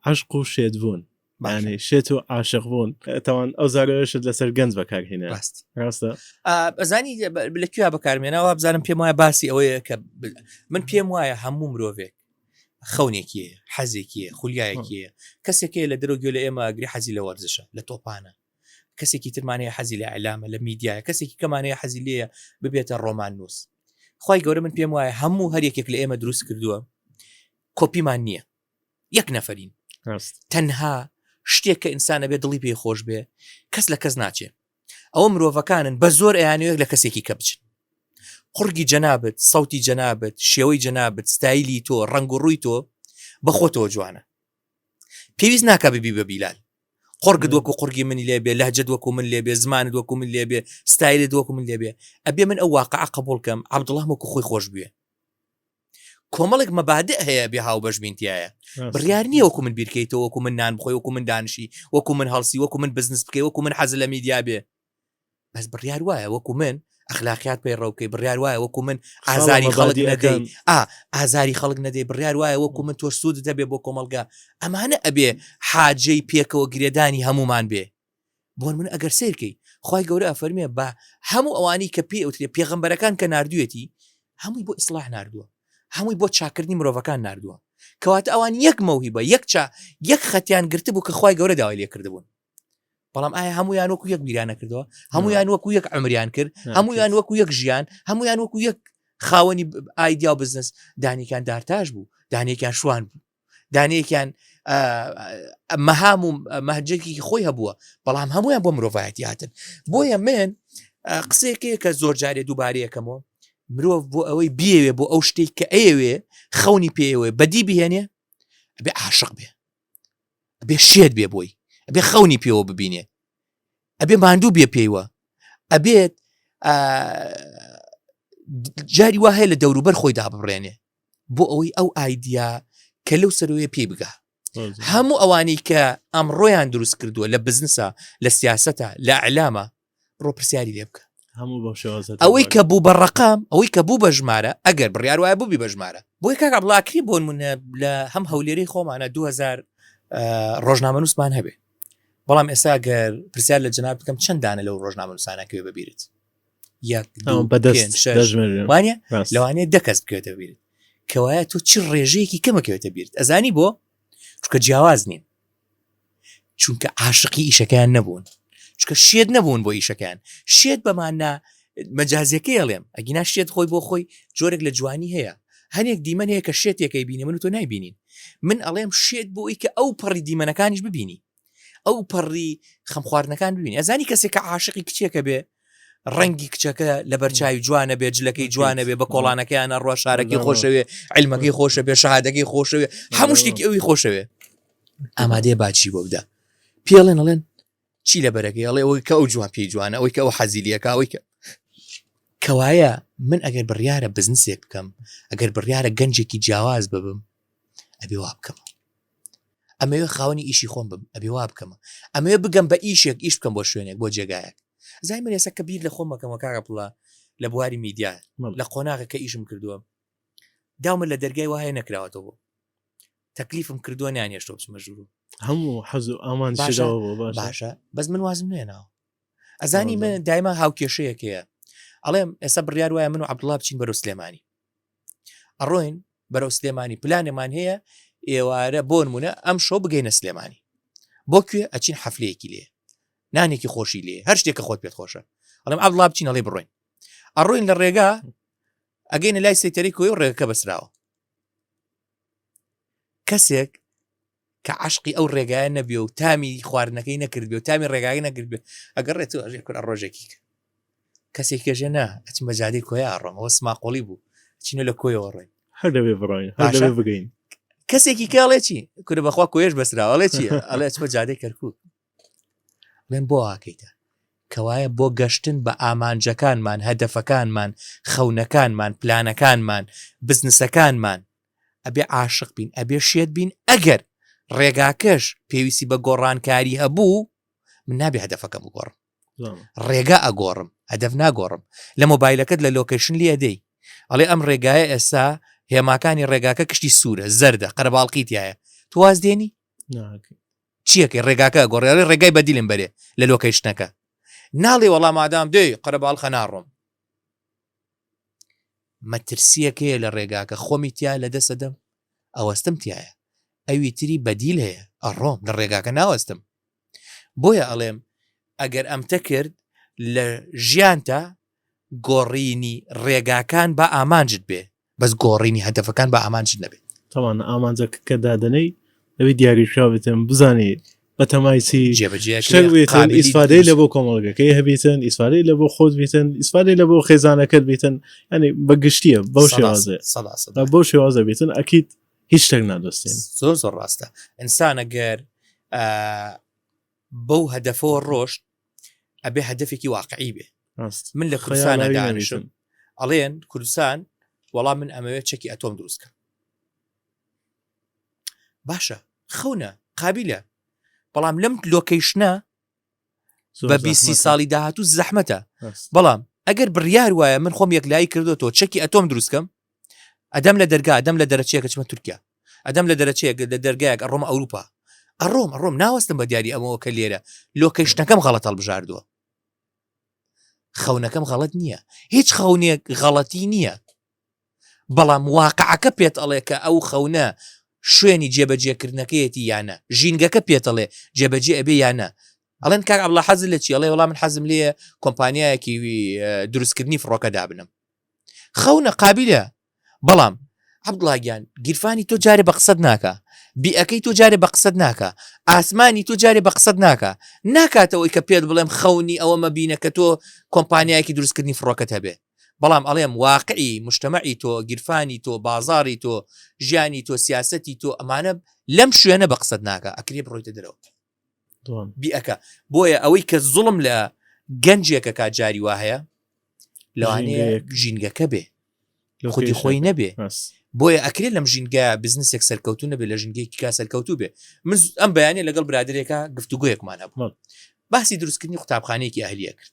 عشق و شێت بوون بانێ شێت و عاشق بوون تاوان ئەو زارەوەشت لەسەر گەنج بەکارهێنە ڕاست ڕاستە ئەزانی لە کوێ بەکارمێنەوە بزانم پێم وایە باسی ئەوەیە کە من پێم وایە هەموو مرۆڤێک خەونێکی حەزێکی خولیایەکی کەسێکی لە دەرۆگوێ لە ئێمە گری حەزی لە وەرزشە لە تۆپانە کەسێکی ترمانەیە حەزی لە ئەلامە لە میدیایە کەسێکی کەمانەیە حەزی لێە ببێتە ڕۆمان نووس خوای گەورە من پێم وایە هەموو هەر یەکێک لە ئێمە دروست کردووە کۆپیمان نییە یەک نەفرین تەنها شتێک کە ئینسانە بێ دڵی پێ خۆش بێ کەس لە کەس ناچێ ئەوە مرۆڤەکانن بە زۆر ئەیانەیەک لە کەسێکی کە بچن قڕگی جەنابەت سەوتی جەنابەت شێوەی جەنابەت ستایلی تۆ ڕنگ و ڕووی تۆ بەخۆتەوە جوانە پێویست ناکا ببی بە بیلال قڕگت وەکو قڕگی منی لێ بێ لەهجد وەکو من لێ بێ زمانت وەکو من لێ بێ ستایلت وەکو من لێ بێ ئەبێ من ئەو واقع قبولکەم عبدڵام وەکو خۆی خۆش بوێ کۆمەڵێک مەبادئ هەیە بێ هاو بەش بینتیایە بڕیار نییە وەکو من بیرکەیتەوە وەکو من نان بخۆی وەکو من دانشی وەکو من هەڵسی وەکو من بزنس بکەی وەکو من حەز لە میدیا بێ بەس بڕیار وایە وەکو من ئەخلاقیات پێی ڕەوکەی بڕیار وایە وەکو من ئازاری خەڵک نەدەی ئازاری خەڵک نەدەی بڕیار وایە وەکو من تۆ سوود دەبێ بۆ کۆمەلگا ئەمانە ئەبێ حاجەی پێکەوە گرێدانی هەمومان بێ بۆن من ئەگەر سیرکەی خی گەورە فەرمێ بە هەموو ئەوانی کە پێ ئەوترێ پێغمبەرەکان کە نردوێتی هەمووی بۆ ئیسلاح نردووە هەمووی بۆ چاکردنی مرۆڤەکان نردووە کەواتە ئەوان یەک مەوهی بە یەکچا یەک خەتیان گرتبوو کە خی گەورە داوای لێکردبوون بەڵام ئایا هەمویان وەکو یەک بیرانە کردەوە هەمویان وەکو یەک ئەمریان کرد هەمویان وەکو یەک ژیان هەمویان وەکو یەک خاوەنی ئایدیا و بزنس دانێکیان دارتاش بوو دانێکیان شوان بوو دانێکیان مەهام و مەهجێکی خۆی هەبووە بەڵام هەمویان بۆ مرۆڤایەتی هاتن بۆیە من قسێکێ کە زۆر جارێ دووبارەیەکەمەوە مرۆڤ بۆ ئەوەی بێوێ بۆ ئەو شتێک کە ئەیەوێ خەونی پێوێ بەدی بهێنێ بێ عاشق بێ ئەبێ شێت بێ بۆی ئەبێ خەونی پێوە ببینێ ئەبێ ماندوو بێ پێیوە ئەبێت جاری وا هەیە لە دەوروبەر خۆی دابڕێنێ بۆ ئەوەی ئەو ئایدیا کە لەو سەروێ پێی بگا هەموو ئەوانەی کە ئەمڕۆیان دروست کردووە لە بزنسە لە سیاستە لە ئەلامە ڕۆ پرسیاری لێ بکە ئەوەی کە بوو بە ڕقام ئەوەی کە بوو بە ژمارە ئەگەر بڕیار وایە بووبی بە ژمارە بۆی کاکە بڵاکری بۆن منە لە هەم هەولێری خۆمانە 2000 ڕۆژنامە نووسمان هەبێ بەڵام ئێستا گەر پرسیار لە جناب بکەم چەندانە لەو ڕۆژنامە نووسانەکەێ ببیرت بەدەستوانە لەوانەیە دەکەس بکەێتە بیرت کەوایە تۆ چی ڕێژەیەکی کەمەکەوێتە بیرت ئەزانی بۆ چکە جیاواز نین چونکە عاشقی ئیشەکەیان نەبوون چکە شێت نەبوون بۆ ئیشەکەیان شێت بەماننا مەجازەکەی ئەڵێم ئەگینا شێت خۆی بۆ خۆی جۆرێک لە جوانی هەیە هەنێک دیمەن هەیە کە شێتێکەکەی بینی من تۆ نایبینین من ئەڵێم شێت بۆی کە ئەو پەڕی دیمەنەکانیش ببینی ئەو پەڕی خەمخواردنەکان ببینی ئەزانی کەسێک کە عاشقی کچێکە بێ ڕەنگی کچەکە لە بەرچوی جوانە بێ جلەکەی جوانە بێ بە کۆڵانەکەیانە ڕۆ شارەکەی خۆشەوێ علمەکەی خۆشە بێ شادەکەی خۆشەوێ هەموو شتێکی ئەوی خۆشەوێ ئامادەیە باچی بۆ بدا پێڵێن ئەڵێن چی لە بەرەکەی ئەڵێ ئەوەی کە ئەو جوان پێی جوانە ئەوەی کە ئەو حەزیلیەکە ئەوەی کە کەوایە من ئەگەر بڕیاە بزنسێک بکەم ئەگەر بڕیاە گەنجێکی جیاواز ببم ئەبێ وا بکەمە ئەمەوێ خاوەنی ئیشی خۆم بم ئەبێ وا بکەمە ئەمەوێ بگەم بە ئیشێک ئیش بکەم بۆ شوێنێک بۆ جێگایەک زای من ێسە کە بیر لە خۆمەکەمە کاگە پڵە لە بواری میدیا لە قۆناغە کە ئیشم کردووە داومە لە دەرگای وایە نەکراوەتەوە بۆ تەکلیفم کردووە نیانێشتۆ بچمە ژوور هەموو حەز و ئامان باشە بەس من وازم نوێناوە ئەزانی من دایما هاوکێشەیەکەیە ئەڵێم ئێستا بڕیار وایە من و عبدڵا بچین بەرە سلێمانی ئەڕۆین بەرەو سلێمانی پلانێمان هەیە ئێوارە بۆن مونە ئەم شەو بگەینە سلێمانی بۆ کوێ ئەچین حەفلەیەکی لێ نانێکی خۆشی لێ هەر شتێکە خۆت پێت خۆشە ئەڵم ئەبڵا بچین ئەڵی بڕۆین ئەڕۆین لە ڕێگا ئەگەینە لای سەیتەری کۆی و ڕێگەکە بەسراوە کەسێک کە عەشقی ئەو ڕێگایە نەبێ و تامی خواردنەکەی نەکرد بێ و تامی ڕێگای نەکرد بێ ئەگەر ڕێت و ئەژێ کورە ڕۆژێکی کە کەسێک کەژێ نا ئەچم بە جادەی کۆی ئاڕۆمەوە سماقۆڵی بوو چینە لە کۆیەوە ڕۆین هەر دەبێ بڕۆین هەر باشە. دەبێ بگەین کەسێکی کاڵێ چی کورە بەخوا کۆیش بەسراوەڵێ چی ئەڵێ ئەچمە جادەی کەرکوو بڵێن بۆ ئاکەیتە کەوایە بۆ گەشتن بە ئامانجەکانمان هەدەفەکانمان خەونەکانمان پلانەکانمان بزنسەکانمان ئەبێ عاشق بین ئەبێ شێت بین ئەگەر ڕێگاکەش پێویستی بە گۆڕانکاری هەبوو من نابێ هەدەفەکە بگۆڕم ڕێگا ئەگۆڕم هەدەف ناگۆڕم لە مۆبایلەکەت لە لۆکەشن لێدەی ئەڵێ ئەم ڕێگایە ئێستا هێماکانی ڕێگاکە کشتی سوورە زەردە قەرباڵقی تایە تواز دێنی چیەکەی ڕێگاکە گۆڕێڵی ڕێگای بەدیلم بەرێ لە لۆکەشنەکە ناڵێ وەڵام مادام دێ قەرەباڵخە ناڕۆم مەترسیەک هەیە لە ڕێگاکە خۆمی تیا لەدەست ئەدەم ئەوەستم تایە ئەوی تری بەدیل هەیە ئەڕۆم لە ڕێگاکە ناوەستم بۆیە ئەڵێم ئەگەر ئەمتە کرد لە ژیانتە گۆڕینی ڕێگاکان بە ئامانجت بێ بەس گۆڕینی هەدەفەکان بە ئامانج نەبێت تەوان ئامانجەکە کە دادنەی ئەوی دیاریشاوێتم بزانێت بەتەمای چی شتێکێتن ئیسفادەی لە بۆ کۆمەڵگەکەی هەبیتن ئیسفادەی لە بۆ خۆت بیتن ئیسفادەی لە بۆ خێزانەکەت بیتن ینی بە گشتیە بەو شێوازێ بۆ شێوازە بیتن ئەکییت هیچ شتێک نادۆستین زۆر زۆر ڕاستە ئینسانە گەر بەو هەدەفەوە ڕۆشت ئەبێ هەدفێکی واقعی بێ من لە کوردستان دانیشم ئەڵێن کوردستان وەڵام من ئەمەوێت چەکی ئەتۆم دروستکە باشە خەونە قابلە بەڵام لەم لۆکەیشنە بە بیسی ساڵی داهاتوو زەحمەتە بەڵام ئەگەر بڕیار وایە من خۆم یەکلایی کردوەوە چەکی ئەتۆم دروستکەم ئەدەم لە دەرگا ئەدەم لە دەرەچەیەکە چمە تورکیا ئەدەم لە دەرەچەیە لە دەرگایەک ئەڕۆم ئەوروپا ئەڕۆم ئەڕۆم ناوەستم بە دیاری ئەمەوە کە لێرە لۆکەیشتەکەم غەڵەت هەڵبژاردووە خەونەکەم غەڵت نییە هیچ خەونێک غەڵەتی نییە بەڵام واقعەکە پێت ئەڵێ کە ئەو خەونە شوێنی جێبەجێکردنەکەیەتی یا نە، ژینگەکە پێت ئەڵێ جێبەجێ ئەبێ یا نە. ئەڵێن کاک عەبدوڵا حەزت لە چیە؟ ئەڵێ وەڵا من حەزم لێیە کۆمپانیایەکی دروستکردنی فڕۆکە دابنم. خەونە قابیلە بەڵام عەبدوڵا گیان گیرفانی تۆ جارێ بە قسەت ناکا، بیئەکەی تۆ جارێ بە قسەت ناکا، ئاسمانی تۆ جارێ بە قسەت ناکا، ناکاتەوەی کە پێت بڵێم خەونی ئەوەمە بینە کە تۆ کۆمپانیایەکی دروستکردنی فڕۆکەت هەبێ. بەڵام ئەڵێم واقعی مجتمعی تۆ، گیرفانی تۆ، بازاڕی تۆ، ژیانی تۆ، سیاسەتی تۆ ئەمانە لەم شوێنە بە قسەت ناکا ئەکرێ بڕۆیتە دەرەوە بیئەکا بۆیە ئەوەی کە زوڵم لە گەنجێکە کا جاری وا هەیە لەوانەیە ژینگەکە بێ خودی خۆی نەبێ بۆیە ئەکرێت لەم ژینگە بزنسێک سەرکەوتو نەبێ لە ژنگێکی کا سەرکەوتو بێ من ئەم بەیانە لەگەڵ برادێکە گفتوگویەکمانە بوو باسی دروستکردنی قوتابخانەیەکی ئەهلیە کرد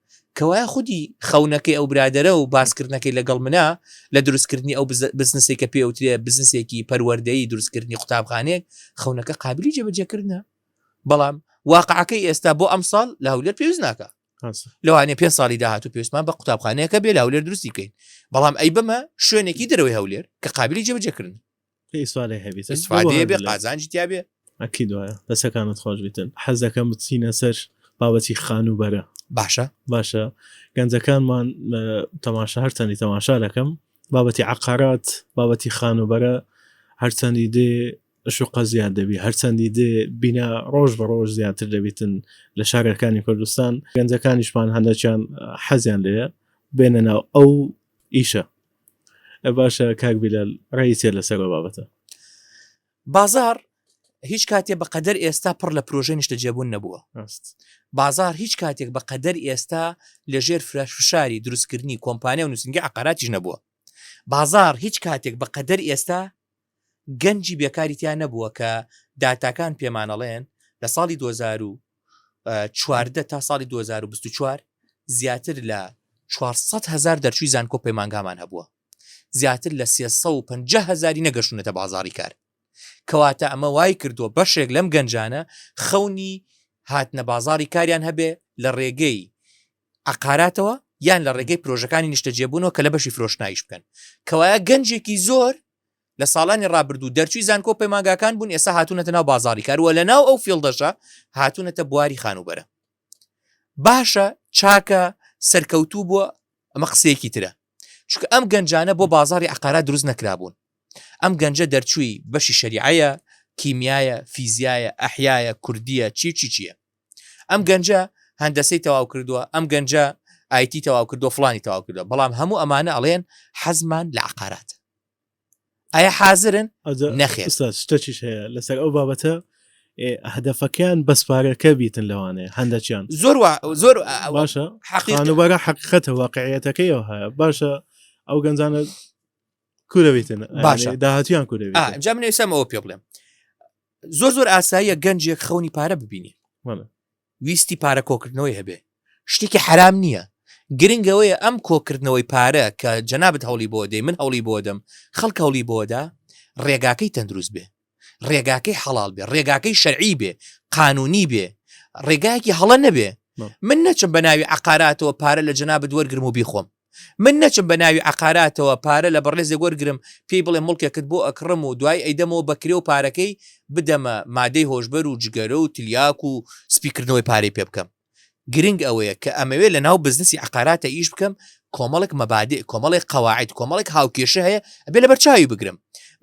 کەوایە خودی خەونەکەی ئەو برادەرە و باسکردنەکەی لەگەڵ منە لە دروستکردنی ئەو بزنسەی کە پێی ئەوترێ بزنسێکی پەروەردەیی دروستکردنی قوتابخانەیەک خەونەکە قابلی جێبەجێکردنە بەڵام واقعەکەی ئێستا بۆ ئەمساڵ لە هەولێر پێویست ناکە لەوانێ پێ ساڵی داهات و پێویستمان بە قوتابخانەیەەکە بێ لە هەولێر دروستی بکەین بەڵام ئەی بەمە شوێنێکی دەرەوەی هەولێر کە قابلی جێبەجێکردن ئیسفادەیە بێ قازانجی تیا بێ ئەکی دوایە دەسەکانت خۆش بتن حەزەکەم بچینە سەر بابەتی خانووبەرە باشە باشە گەنجەکانمان تەماشا هەرچەندی تەماشا دەکەم بابەتی عقارات بابەتی خانووبەرە هەرچەندی دێ شوقە زیاد دەبی هەرچەندی دێ بینا ڕۆژ بە ڕۆژ زیاتر دەبیتن لە شارەکانی کوردستان گەنجەکانیشمان هەندەکیان حەزیان لێە بێنە ناو ئەو ئیشە ئە باشە کاک بیلال ڕێی چیە لەسەر ئەو بابەتە؟ بازاڕ هیچ کاتێ بە قەدەر ئێستا پڕ لە پرۆژەی نیشتەجێبوون نەبووە ڕاست بازار هیچ کاتێک بە قەدەر ئێستا لەژێر فرەش فشاری دروستکردنی کۆمپانیا و نووسنگی عقاراتیش نەبووە بازار هیچ کاتێک بە قەدەر ئێستا گەنجی بێکاری تیا نەبووە کە داتاکان پێمانەڵێن لە ساڵی دوو هەزار و چواردە تا ساڵی دوو هەزار و بیست و چوار زیاتر لە چوار سەد هەزار دەرچووی زانکۆ پەیمانگامان هەبووە زیاتر لە سێ سەد و پەنجا هەزاری نەگەشتوونەتە بازاڕی کار کەواتە ئەمە وای کردووە بەشێک لەم گەنجانە خەونی هاتنە بازاڕی کاریان هەبێ لە ڕێگەی عقاراتەوە یان لە ڕێگەی پرۆژەکانی نیشتەجێبوونەوە کە لە بەشی فرۆشنایش بکەن کەوایە گەنجێکی زۆر لە ساڵانی ڕابردوو دەرچووی زانکۆ و پەیمانگاکان بوون ئێستا هاتوونەتە ناو بازاڕی کار و لەناو ئەو فیڵدەشە هاتوونەتە بواری خانووبەرە باشە چاکە سەرکەوتوو بووە ئەمە قسەیەکی ترە چکە ئەم گەنجانە بۆ بازاری عقارا دروست نەکرابوون ئەم گەنجە دەرچووی بەشی شەریعەیە کیمیایە فیزیایە ئەحیایە کوردیە چی چی چییە ئەم گەنجە هەندەسەی تەواو کردووە ئەم گەنجە ئایتی تەواو کردو فلانی تەواو کردو بەڵام هەموو ئەمانە ئەڵێن حەزمان لە عقارات ئایا حازرن نەخێستەچیش هەیە لەسەر ئەو بابەتە هەدەفەکەیان بەسپارەکە بیتن لەوانەیە هەندەچیان زۆر زۆر باشە حەقیانوبارە حەقیقەتە واقعەتەکەی ئەو هەیە باشە ئەو گەنجانە کورەویتن باشە داهاتیان کورە جا منێسەمەوە پێ بڵێم زۆر زۆر ئاساییە گەنجێک خەونی پارە ببینی ویستی پارە کۆکردنەوەی هەبێ شتێکی حرام نییە گرنگەوەیە ئەم کۆکردنەوەی پارە کە جەنابەت هەوڵی بۆ دەی من هەوڵی بۆ دەم خەڵک هەوڵی بۆدا ڕێگاکەی تەندروست بێ ڕێگاکەی حەڵال بێ ڕێگاکەی شەرعی بێ قانونی بێ ڕێگایەکی هەڵە نەبێ من نەچم بە ناوی عقاراتەوە پارە لە جەنابەت وەرگرم و بیخۆم من نەچم بە ناوی عەقاراتەوە پارە لە بەڕێزێک وەرگرم پێی بڵێم موڵکێکت بۆ ئەکڕم و دوایی ئەیدەمەوە بە کرێ و پارەکەی بدەمە مادەی هۆشبەر و جگەرە و تلیاک و سپی کردنەوەی پارەی پێ بکەم گرنگ ئەوەیە کە ئەمەوێ لە ناو بزنسی عەقاراتە ئیش بکەم کۆمەڵێک مەبادئ کۆمەڵێک قەواعید کۆمەڵێک هاوکێشە هەیە ئەبێ لەبەر چاوی بگرم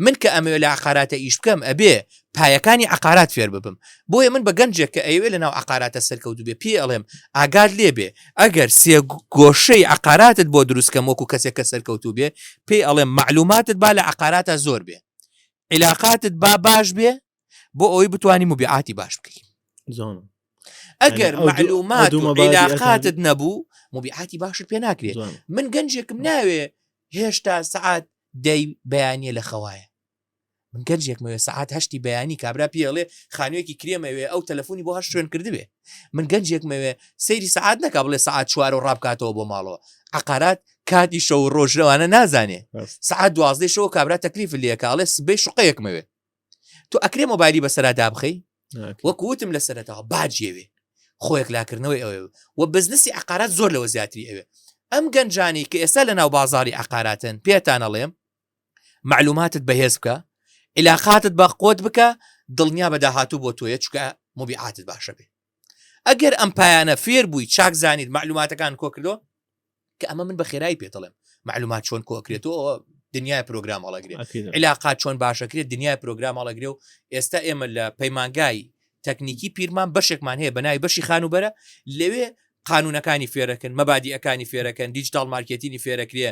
من کە ئەمەوێ لە عەقاراتە ئیش بکەم ئەبێ پایەکانی عقارات فێر ببم بۆیە من بە گەنجێک کە ئەوێ لە ناو عقاراتە سەرکەوت بێ پێ ئەڵێم ئاگاد لێ بێ ئەگەر سێ گۆشەی عقاراتت بۆ دروستکەم وەکو کەسێک کە سەرکەوتو بێ پێ ئەڵێم معلوماتت با لە عقاراتە زۆر بێ علااقاتت با باش بێ بۆ ئەوەی بتانی مبیعاتی باش بکەی زۆن ئەگەر معلومات و علااقاتت نەبوو مبیعاتی باشت پێ ناکرێت من گەنجێکم ناوێ هێشتا سعات دەی بەیانە لە خەوایە من گەنجێکمە وێ سەعات هەشتی بەیانی کابرا پێ ئەڵێ خانوێکی کرێمە وێ ئەو تەلەفۆنی بۆ هەشت شوێن کردبێ من گەنجێکمە وێ سەیری سەعات نەکا بڵێ سەعات چوار و ڕابکاتەوە بۆ ماڵەوە عقارات کاتی شەو و ڕۆژ لەوانە نازانێ بەس. سەعات دوازدەی شەوە کابرا تەکلیف لێکە ئەڵێ سبەی شقەیەکمە وێ تو ئەکرێ مۆبایلی بەسەرا دابخەی ناکرێت. وەک وتم لە سەرەتەوە باجیەوێ خۆیەک لاکردنەوەی ئەوێ و بزنسی عقارات زۆر لەوە زیاتری ئەوێ ئەم گەنجانی کە ئێستا لە ناو بازاری عقاراتن پێتان ئەڵێم مەعلوماتت بەهێز بکە عیلاقاتت بە قوت بکە دڵنیا بە داهاتوو بۆ تۆیە چکە مبیعاتت باشە بێ ئەگەر ئەم پایانە فێر بووی چاک زانیت مەعلوماتەکان کۆکردۆ کە ئەمە من بە خێرایی پێ دەڵێم معلومات چۆن کۆکرێتەوە دنیای پرۆگرام هەڵەگرێت علااقات چۆن باشەکرێت دنیای پرۆگرام هەڵەگرێ و ئێستا ئێمە لە پەیمانگای تەکنیکی پیرمان بەشێکمان هەیە بەناوی بەشی خانوبەرە لەوێ قانونەکانی فێرەکەن مەبادیەکانی فێرەکەن دیجیتال مارکێتینی فێرەکرێ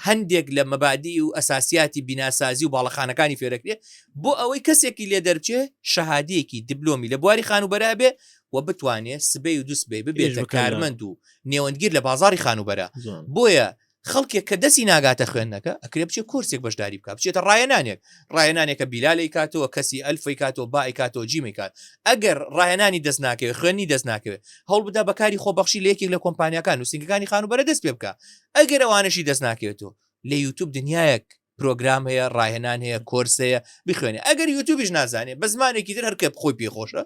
هەندێک لە مەبادی و ئەساسیاتی بیناسازی و باڵەخانەکانی فێرەکرێ بۆ ئەوەی کەسێکی لێ دەرچێ شەهادەیەکی دبلۆمی لە بواری خانوبەرا بێ و بتوانێت سبەی و دوسبەی ببێت کارمەند و نێوەندگیر لە بازاری خانوبەرە بۆیە خەڵکێک کە دەسی ناگاتە خوێندنەکە ئەکرێ بچێ کۆرسێک بەشداری بکات بچێتە ڕاهێنانێک ڕاهێنانێکە بیلال ئەیکاتەوە کەسی ئەلف ئەیکاتەوە با ئەیکاتەوە جیم ئەیکات ئەگەر ڕاهێنانی دەست ناکەوێت خوێندنی دەست ناکەوێت هەوڵ بدا بەکاری خۆبەخشی لە یەکێک لە کۆمپانیاکان نووسینگەکانی خانووبەرە دەست پێ بکە ئەگەر ئەوانەشی دەست ناکەوێتەوە لە یوتوب دنیایەک پرۆگرام هەیە ڕاهێنان هەیە کۆرس هەیە بخوێنێ ئەگەر یوتوبیش نازانێ بە زمانێکی تر هەرکە خۆی پێ خۆشە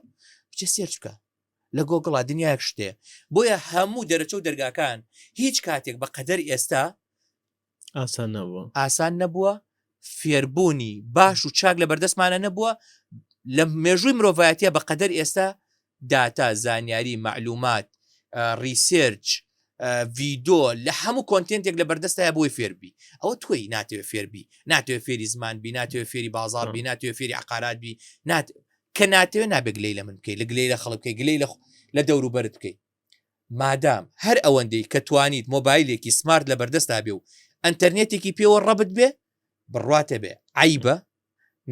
بچێ سێرچ بکە لە گۆگڵا دنیایەک شتێ بۆیە هەموو دەرەچە و دەرگاکان هیچ کاتێک بە قەدەر ئێستا ئاسان نەبووە ئاسان نەبووە فێربوونی باش و چاک لە بەردەستمانە نەبووە لە مێژووی مرۆڤایەتە بە قەدەر ئێستا داتا زانیاری معلومات ریسێرچ ڤیدۆ لە هەموو کۆنتێنتێک لە بەردەستای بۆی فێربی ئەوە تۆی ناتوێ فێربی ناتوێ فێری زمان بی ناتوێ فێری بازار بی ناتوێ فێری عقارات بی نات کە ناتەوێ نابێ گلەی لە من بکەی لە گلەی لە خەڵک بکەی گلەی لە دەوروبەرت بکەی مادام هەر ئەوەندەی کە توانیت مۆبایلێکی سمارت لە بەردەستا بێ و ئەتەرنێتێکی پێوە ڕەبت بێ بڕاتە بێ عیبە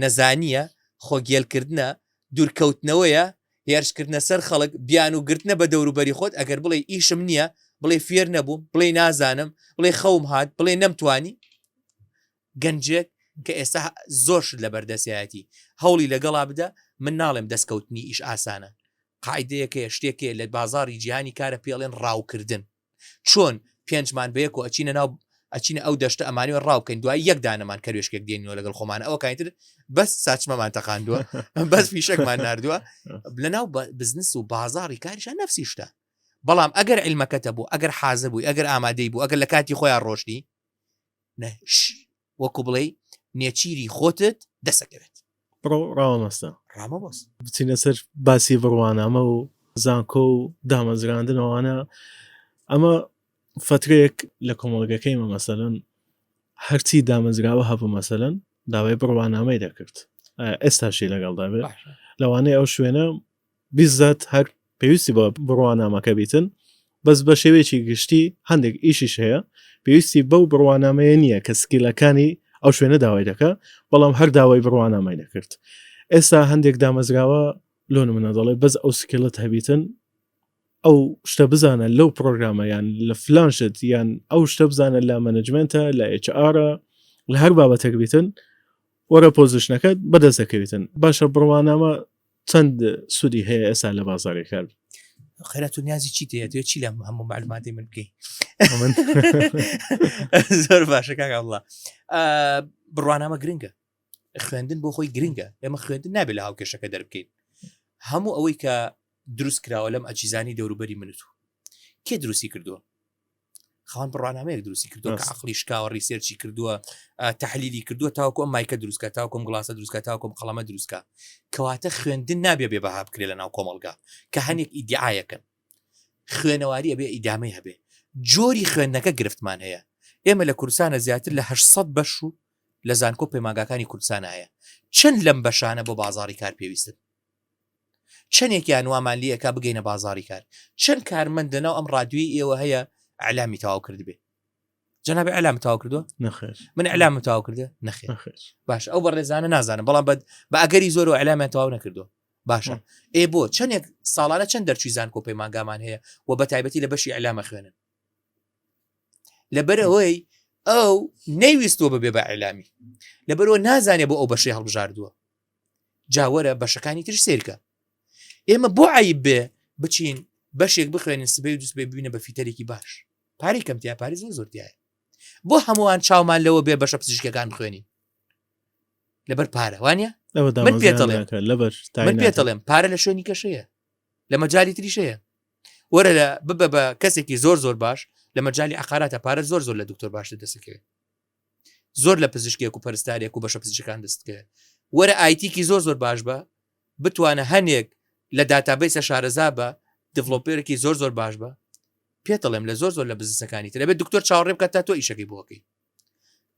نەزانیە خۆگیێلکردە دوورکەوتنەوەیە هێرشکردە سەر خەڵک بیان و گرتنە بە دەوروبەری خۆت ئەگەر بڵێ ئیشم نییە بڵێ فێر نەبووم بڵێ نازانم بڵێ خەوم هاات بڵێ نەمتوانی گەنجێک کە ئێستا زۆر شت لەبەر دەستیایەتی هەوڵی لەگەڵا بدە، من ناڵێم دەستکەوتنی ئیش ئاسانە، قاعیدەیەک هەیە شتێک هەیە لە بازاڕی جیهانی کارە پێی ئەڵێن ڕاوکردن، چۆن پێنجمان بەیەکەوە ئەچینە ناو ئەچینە ئەو دەشتە ئەمانەوێ ڕاو بکەین دوای یەک دانەمان کەروێشکێک دێنینەوە لەگەڵ خۆمانە ئەوە کاین تر بەس ساچمەمان تەقاندووە بەس فیشەکمان نردووە لەناو بزنس و بازاڕی کاریشە نەفسی شتە بەڵام ئەگەر علمەکەتە بوو ئەگەر حازر بووی ئەگەر ئامادەی بوو ئەگەر لە کاتی خۆیان ڕۆشتی نە ش وەکو بڵێی نێچیری خۆتت دەسەکەوێت. بڕۆ ڕاوەمەستە. ڕامەبەس. بچینە سەر باسی بڕوانامە و زانکۆ و دامەزراندنەوانە ئەمە فترێک لە کۆمەڵگەکەی مە مەسەلەن هەرچی دامەزراوە هەبوو مەسەلەن داوای بڕوانامەی دەکرد ئێستاشی لەگەڵدا بێت لەوانەیە ئەو شوێنە بیززات هەر پێویستی بە بڕوانامەکە بیتن بەس بە شێوەیەکی گشتی هەندێک ئیشیش هەیە پێویستی بەو بڕوانامەیە نییە کە سکیلەکانی ئەو شوێنە داوای دەکە بەڵام هەر داوای بڕوانامای دەکرد ئێستا هەندێک دامەزراوە لۆ منە دەڵێ بەس ئەو سکیلت هەبیتن ئەو شتە بزانە لەو پرۆگرامەیان لە فلانشت یان ئەو شتە بزانە لە مەنجمنتە لە HR لە هەر بابەتەک بیتن وەرە پۆزیشنەکەت بەدەست دەکەویتن باشە بڕوانامە چەند سوودی هەیە ئێستا لە بازاری کار خێرا تو نیازی چی دێتێ چی لە هەموو معلوماتی من بکەی زۆر باشە کاکە وڵا بڕوانامە گرنگە خوێندن بۆ خۆی گرنگە ئێمە خوێندن نابێت لە هاوکێشەکە دەربکەین هەموو ئەوەی کە دروست کراوە لەم ئەجیزانی دەوروبەری منت و کێ دروستی کردووە خان بڕانامەیەک دروستی کردو عقلی شکاوە ریسێرچی کردووە تحلیلی کردووە تاوکۆ مایکە دروستکە تاوکم گڵاسە دروستکە تاوکم قەڵەمە دروستکە کەواتە خوێندن نابێ بێ بەها بکرێت لە ناو کۆمەلگا کە هەنێک ئیدعاەکەن خوێنەواری ئەبێ ئیدامەی هەبێ جۆری خوێندنەکە گرفتمان هەیە ئێمە لە کوردستانە زیاتر لە 800 بەش و لە زانکۆ پەیماگاکانی کوردستان هەیە چەند لەم بەشانە بۆ بازاری کار پێویستن چەنێکیان وامان لێ ئەکا بگەینە بازاڕی کار چەن کارمەند لەناو ئەم ڕادوێی ئێوە هەیە ئەلامی تاو کردبێ جناب ئەلام تاو کردووە نەخێر من ئەلام تاو کردە نەخێر باش ئەو بە ڕێزانە نازانم بەڵام بەد بە ئەگەری زۆر و ئەلامیان تاو نەکردو باشە ئێ بۆ چەندێک ساڵانە چەند دەرچوی زان کۆ پەیمانگامان هەیە و بە تایبەتی لە بەشی ئەلامە خوێنن لەبەرەوەی ئەو نەیویستوە ببێ بە ئەلامی لەبەرەوە نازانێ بۆ ئەو بەشی هەڵبژاردووە جاوەرە بەشەکانی تر سێرکە ئێمە بۆ عیب بێ بچین بەشێک بخوێنین سبەی و دوست بێ ببینە بە فیتەرێکی باش پارەی کەمتیا پارێز و زۆرتیایە بۆ هەمووان چاومان لەوە بێ بەشە پزیشکەکان بخوێنین لەبەر پارە وانە من پێ لەبەر من پێ دەڵێم پارە لە شوێنی کەشەیە لە مەجای تریشەیە وەرە لە ببە بە کەسێکی زۆر زۆر باش لە مەجای عقاراتە پارە زۆر زۆر لە دکتۆر باشتە دەسەکەوێت زۆر لە پزیشکێک و پەرستارێک و بەشە پزیشکان دەستکە وەرە ئایتیکی زۆر زۆر باش بە بتوانە هەنێک لە داتابیسە شارەزا بە دڤلۆپێرەکی زۆر زۆر باش بە پێ دەڵێم لە زۆر زۆر لە بزنسەکانی ترەبێت دکتۆر چاوەڕێ بکە تا تۆ ئیشەکەی بۆکەی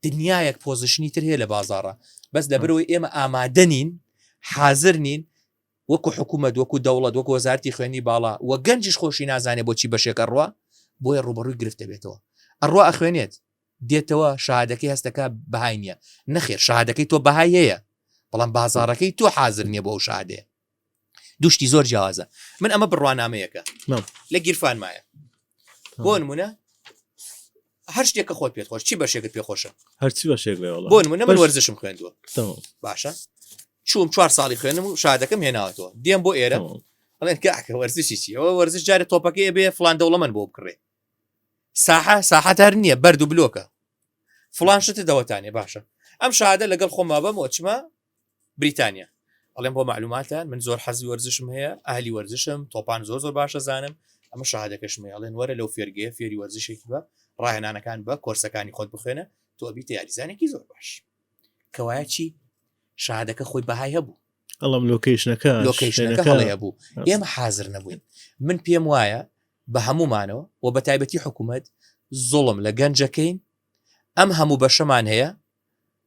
دنیایەک پۆزیشنی تر هەیە لە بازارە بەس لە برەوەی ئێمە ئامادەنین حاضر نین وەکو حکوومەت وەکو دەوڵەت وەکو وەزارتی خوێنی باڵا و گەنجش خۆشی نازانێت بۆچی بەشێکە ڕوە بۆیە ڕوبەڕووی گرفتە بێتەوە ئەڕوا ئەخوێنێت دێتەوە شەهادەکەی هەست دەکات بەهای نییە، نەخێر شەهادەکەی تۆ بەهای هەیە بەڵام بازاڕەکەی تۆ حازر نییە بۆ ئەو شەهادەیە دوو شتی زۆر جیاوازە من ئەمە بڕوانامەیەکە لە گیرفانمایە بۆ نمونە هەر شتێکە خۆت پێت خۆش چی بەشێکت پێ خۆشە هەرچی بەشێک بۆ نمونە من وەرزشم خوێندووە باشە چوم چوار ساڵی خوێنم و شادەکەم هێناوەتەوە دێم بۆ ئێرە بڵێن کاکە وەرزشی چیەوە وەرزش جارە تۆپەکەی بێ فلان دەوڵەمەند بۆ بکڕێ ساحە ساحە هەر نییە بەرد و بلۆکە فلان شتە دەوەتانێ باشە ئەم شادە لەگەڵ خۆما بەم وەچمە بریتانیا ئەڵێم بۆ معلوماتان من زۆر حەزی وەرزشم هەیە ئاهلی وەرزشم تۆپان زۆر زۆر باشە زانم ئەمە شادەکەشمە ئەڵێن وەرە لەو فێرگەیە فێری وەرزشێکی بە ڕاهێنانەکان بە کۆرسەکانی خۆت بخوێنە تۆ بیتە یاریزانێکی زۆر باش کەوایە چی شادەکە خۆی بەهای هەبوو ئەڵم لۆکیشنەکە لۆکیشنەکە هەڵەیە بوو ئێمە حاضر نەبووین من پێم وایە بە هەموومانەوە و بە تایبەتی حکوومەت زوڵم لە گەنجەکەین، ئەم هەموو بەشەمان هەیە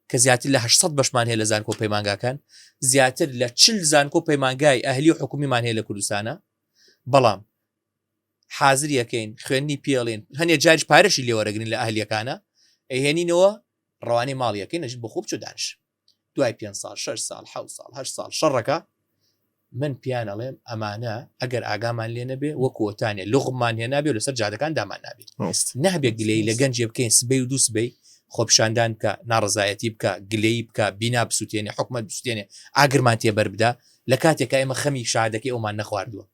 کە زیاتر لە هەشت سەد بەشمان هەیە لە زانکۆ و پەیمانگاکان، زیاتر لە چل زانکۆ و پەیمانگای ئەهلی و حکوومیمان هەیە لە کوردستانا، بەڵام حازریەکەین خوێندنی پێڵێن هەنێ جاریش پارەشی لێوەرەگرین لە ئەهلیەکانا ئەیهێنینەوە ڕەوانەی ماڵیەکەین ئەژین بۆ خۆ بچۆ دانیشە. دوای پێنج ساڵ شەش ساڵ حەوت ساڵ هەشت ساڵ شەڕەکە من پیان ئەڵێم ئەمانە ئەگەر ئاگامان لێ نەبێ وەک وتانێ لغمان هێنابێ لەسەر جادەکان دامان نابێت نەبێت گلەی لە گەنجێ بکەین سبەی و دووسبەی خۆپشاندان بکە ناڕزایەتی بکە گلەی بکە بینا بسووتێنێ حکومت بسووتێنێ ئاگرمان تێبەر بدا لە کاتێکە ئێمە خەمی شادەکەی ئەومان نەخواردووە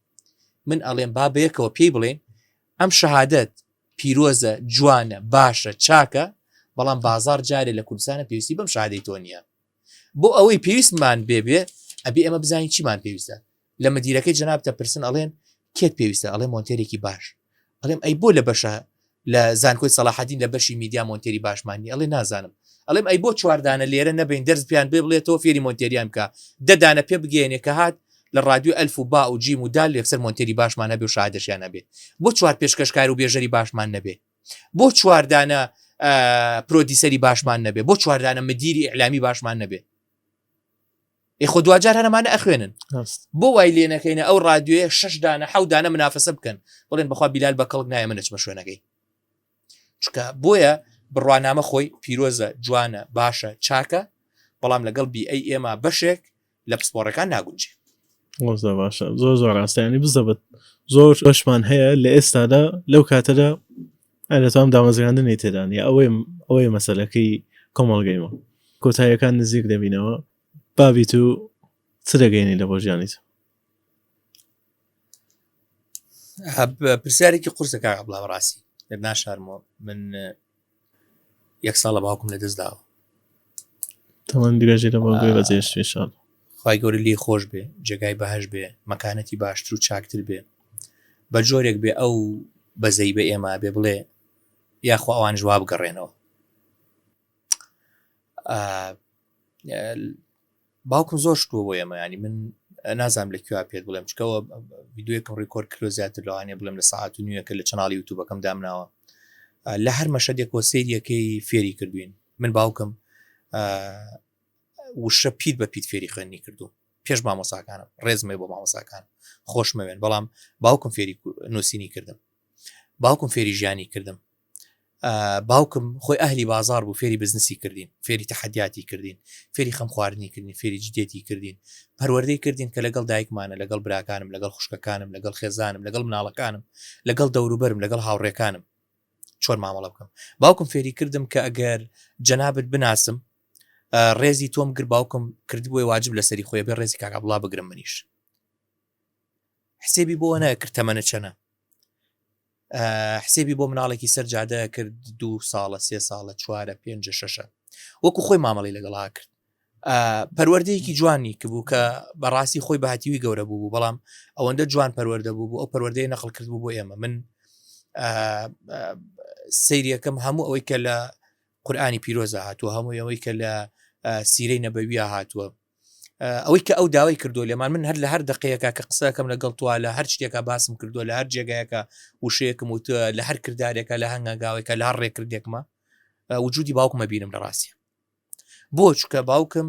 من ئەڵێم بابەیەکەوە پێی بڵێن ئەم شەهادەت پیرۆزە جوانە باشە چاکە بەڵام بازار جارێ لە کوردستانە پێویستی بەم شادەی تۆ نییە بۆ ئەوەی پێویستمان بێبێ ئەبێ ئەمە بزانین چیمان پێویستە لە مدیرەکەی جنابتە پرسن ئەڵێن کێت پێویستە ئەڵێ مۆنتێرێکی باش ئەڵێم ئەی بۆ لە بەشە لە زانکۆی سەلاحدین لە بەشی میدیا مۆنتێری باشمانی ئەڵێ نازانم ئەڵێم ئەی بۆ چواردانە لێرە نەبین دەرز پێیان بێ بڵێتەوە فێری مۆنتێریان بکە دەدانە پێ بگەێنێ کە هات لە ڕادیۆ ئەلف و با و جیم و دال یەکسەر مۆنتێری باشمان هەبێ و شاهدەشیان هەبێ بۆ چوار پێشکەشکار و بێژەری باشمان نەبێ بۆ چوار دانە پرۆدیسەری باشمان نەبێ بۆ چوار دانە مدیری ئیلامی باشمان نەبێ ئێخۆ دواجار هەرمانە ئەخوێنن بۆ وای لێ نەکەینە ئەو ڕادیوێ شش دانە حەودانە منافەسە بکەن بڵێن بەخوا بیلال بە کەڵک نایە منەچمە شوێنەکەی چکە بۆیە بڕوانامە خۆی پیرۆزە جوانە باشە چاکە بەڵام لەگەڵ بی ئەی ئێمە بەشێک لە پسپۆڕەکان ناگونجێ ۆزە باشە زۆر زۆر ڕاستیانی بزەبت زۆر بەشمان هەیە لە ئێستادا لەو کاتەدا ئەلەتام دامەزراندنی تێدانی ئەوەی ئەوەی مەسلەکەی کۆمەڵگەیمە کۆتایەکان نزیک دەبینەوە بابیت و چ دەگەینی لە بۆ ژیانیت پرسیارێکی قورسە کاک عەبدوڵڵا بەڕاستی دەت ناشارمەوە من یەک ساڵە باوکم لە دەست داوە تەوان درێژێ لە بەڵگوێ بەجێش شان خی گەورە لێ خۆش بێ جێگای بەهش بێ مەکانەتی باشتر و چاکتر بێ بە جۆرێک بێ ئەو بەزەی بە ئێمە بێ بڵێ یاخوا ئەوان جواب بگەڕێنەوە باوکم زۆر شتوە بۆ ئێمە ینی من نازانم لە کوێ پێت بڵێم چکەوە ڤیددیوەکەم ڕیکۆرد کرۆ زیاتر لەوانێ بڵێم لە ساعت و نوێەکە لە چناڵی یوتوبەکەم دامناوە لە هەر مەشەدێکەوە سریەکەی فێری کردوین من باوکم وشە پیت بە پیت فێری خوێنی کردو پێش مامۆساکانم ڕێزمێ بۆ مامۆساکان خۆشمەوێن بەڵام باوکم فێری نووسینی کردم باوکم فێری ژیانی کردم باوکم خۆی ئەهلی بازاڕ بوو فێری بزنسی کردین فێری تەحەدیاتی کردین فێری خەم خواردنی کردین فێری جدێتی کردین پەروەردەی کردین کە لەگەڵ دایکمانە لەگەڵ براکانم لەگەڵ خوشکەکانم لەگەڵ خێزانم لەگەڵ مناڵەکانم لەگەڵ دەوروبەرم لەگەڵ هاوڕێکانم چۆن مامەڵە بکەم باوکم فێری کردم کە ئەگەر جەنابەت بناسم ڕێزی تۆم گر باوکم کردبووی واجب لەسەری خۆی بێ ڕێزی کاکە بڵا بگرم منیش حسێبی بۆ نەکرد تەمەە چەنە حسێبی بۆ مناڵێکی سەر جادە ئەکرد دوو ساڵە سێ ساڵە چوارە پێنجە شەشە وەکو خۆی مامەڵی لەگەڵا کرد پەروەردەیەکی جوانی کە بوو کە بەڕاستی خۆی بەهاتیوی گەورە بوو بوو بەڵام ئەوەندە جوان پەروەەردە بوو بوو ئەو پەروەردەی نەخڵ کرد بوو بۆ ئێمە من سریەکەم هەموو ئەوەی کە لە قورآانی پیرۆزە هاتووە هەموو ئەوەی کە لە سیرەی نەبەویە هاتووە ئەوەی کە ئەو داوای کردووە لێمان من هەر لە هەر دەقەیەکە کە قسەکەم لەگەڵ توە لە هەر شتێکە باسم کردووە لە هەر جێگایەکە وشەیەکم وت لە هەر کردارێکە لە هەنگاوێکە لە هەر ڕێکردێکمە وجودی باوکمە بینم لە ڕاستە بۆ چکە باوکم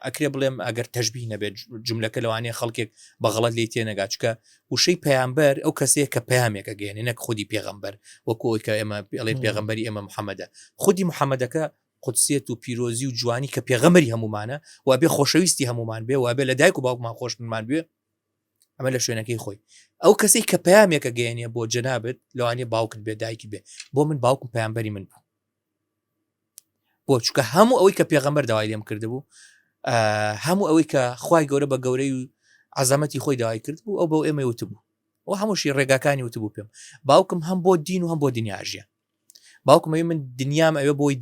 ئەکرێ بڵێم ئەگەر تەژبی نەبێت جملەکە لەوانەیە خەڵکێک بەغڵەت لی تێنەگا چکە وشەی پەیامبەر ئەو کەسەیە کە پامێکە گەێنێ نەک خودی پێغمبەر وەکوۆی کە ئێمە ئەڵێ پێغمبەری ئێمە محەممەدە خودی محەممەدەکە قودسیەت و پیرۆزی و جوانی کە پێغەمبەری هەموومانە و ئەبێ خۆشەویستی هەموومان بێ و ئەبێ لە دایک و باوکمان خۆشمان بوێ ئەمە لە شوێنەکەی خۆی ئەو کەسەی کە پامێکە گەێنە بۆ جەنابێت لەوانێ باوکت بێ دایکی بێ بۆ من باوکم پامبەری من بوو بۆ چکە هەموو ئەوەی کە پێغەمبەر داوای لێم کردبوو هەموو ئەوەی کە خی گەورە بە گەورەی و عزەمەتی خۆی داوای کرد بوو ئەو بەو ئێمە وتبوو و هەمووشی ڕێگاکانی وتبوو پێم باوکم هەم بۆ دین و هەم بۆ دنیاژیان باوکم ئەوێ من دنیام ئەوێ بۆی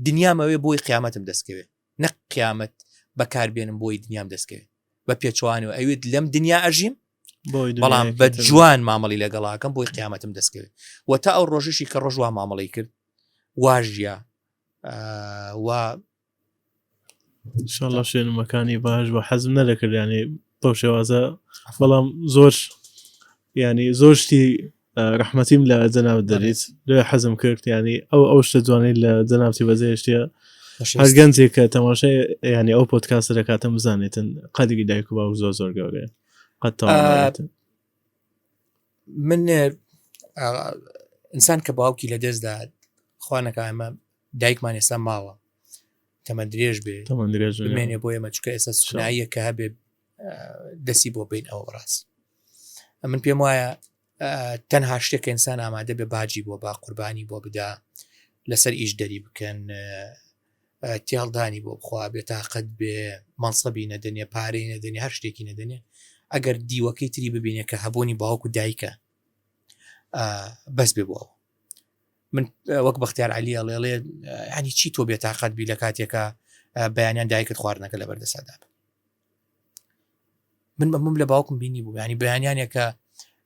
دنیام ئەوێ بۆی قیامەتم دەستکەوێت نەک قیامەت بەکار بێنم بۆی دنیام دەستکەوێت بە پێچوانەوە ئەوێت لەم دنیا ئەژیم بەڵام بە جوان مامەڵی لەگەڵاکەم بۆی قیامەتم دەستکەوێت و تا ئەو ڕۆژشی کە ڕۆژوا مامەڵی کرد واژە و شڵە شوێنمەکانی باش بە حەزم نەدەکرد ینی بەو شێوازە بەڵام زۆر ینی زۆر شتی ڕحمەتیم لە جەناوت دەریت لێ حەزم کرد ینی ئەو ئەو شتە جوانی لە جەناوتی بەزێشتە هەر گەنجێک کە تەماشای ینی ئەو پۆتکاسە دەکاتم بزانێتن قەدیگی دایک و باو زۆر زۆر گەورێ قەت من ئینسان کە باوکی لە دەستدا خوانەکە ئەمە دایکمان ئێستا ماوە تەمە درێژ بێ تەمە درێژ بمێنێ بۆ ئێمە چکە ئێستا سناییە کە هەبێ دەسی بۆ بین ئەو ڕاست من پێم وایە تەنها شتێک ئینسان ئامادە بێ باجی بۆ با قوربانی بۆ بدا لەسەر ئیش دەری بکەن تێڵدانی بۆ بخوا بێ تااقەت بێ مەنسەبی نەدەنێ پارەی نەدەنێ هەر شتێکی نەدەنێ ئەگەر دیوەکەی تری ببینێ کە هەبوونی باوکو دایکە بەس بێ بۆەوە من وەک بەختیار علی ئەڵێڵێ هەنی چی تۆ بێتاقەت بی لە کاتێکە بەیانیان دایکت خواردنەکە لە بەردەسادا من بەمم لە باوکم بینی بوو ینی بەیانیانێکە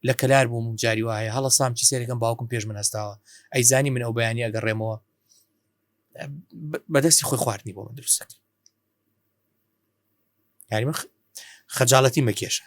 لە کەلار بووم جاری وایە هەڵە سام چی سێرەکەم باوکم پێش من هەستاوە ئەیزانی من ئەو بەیانی ئەگەڕێمەوە بەدەستی خۆی خواردنی بۆ من دروستەکە یاری خەجاڵەتی مەکێشە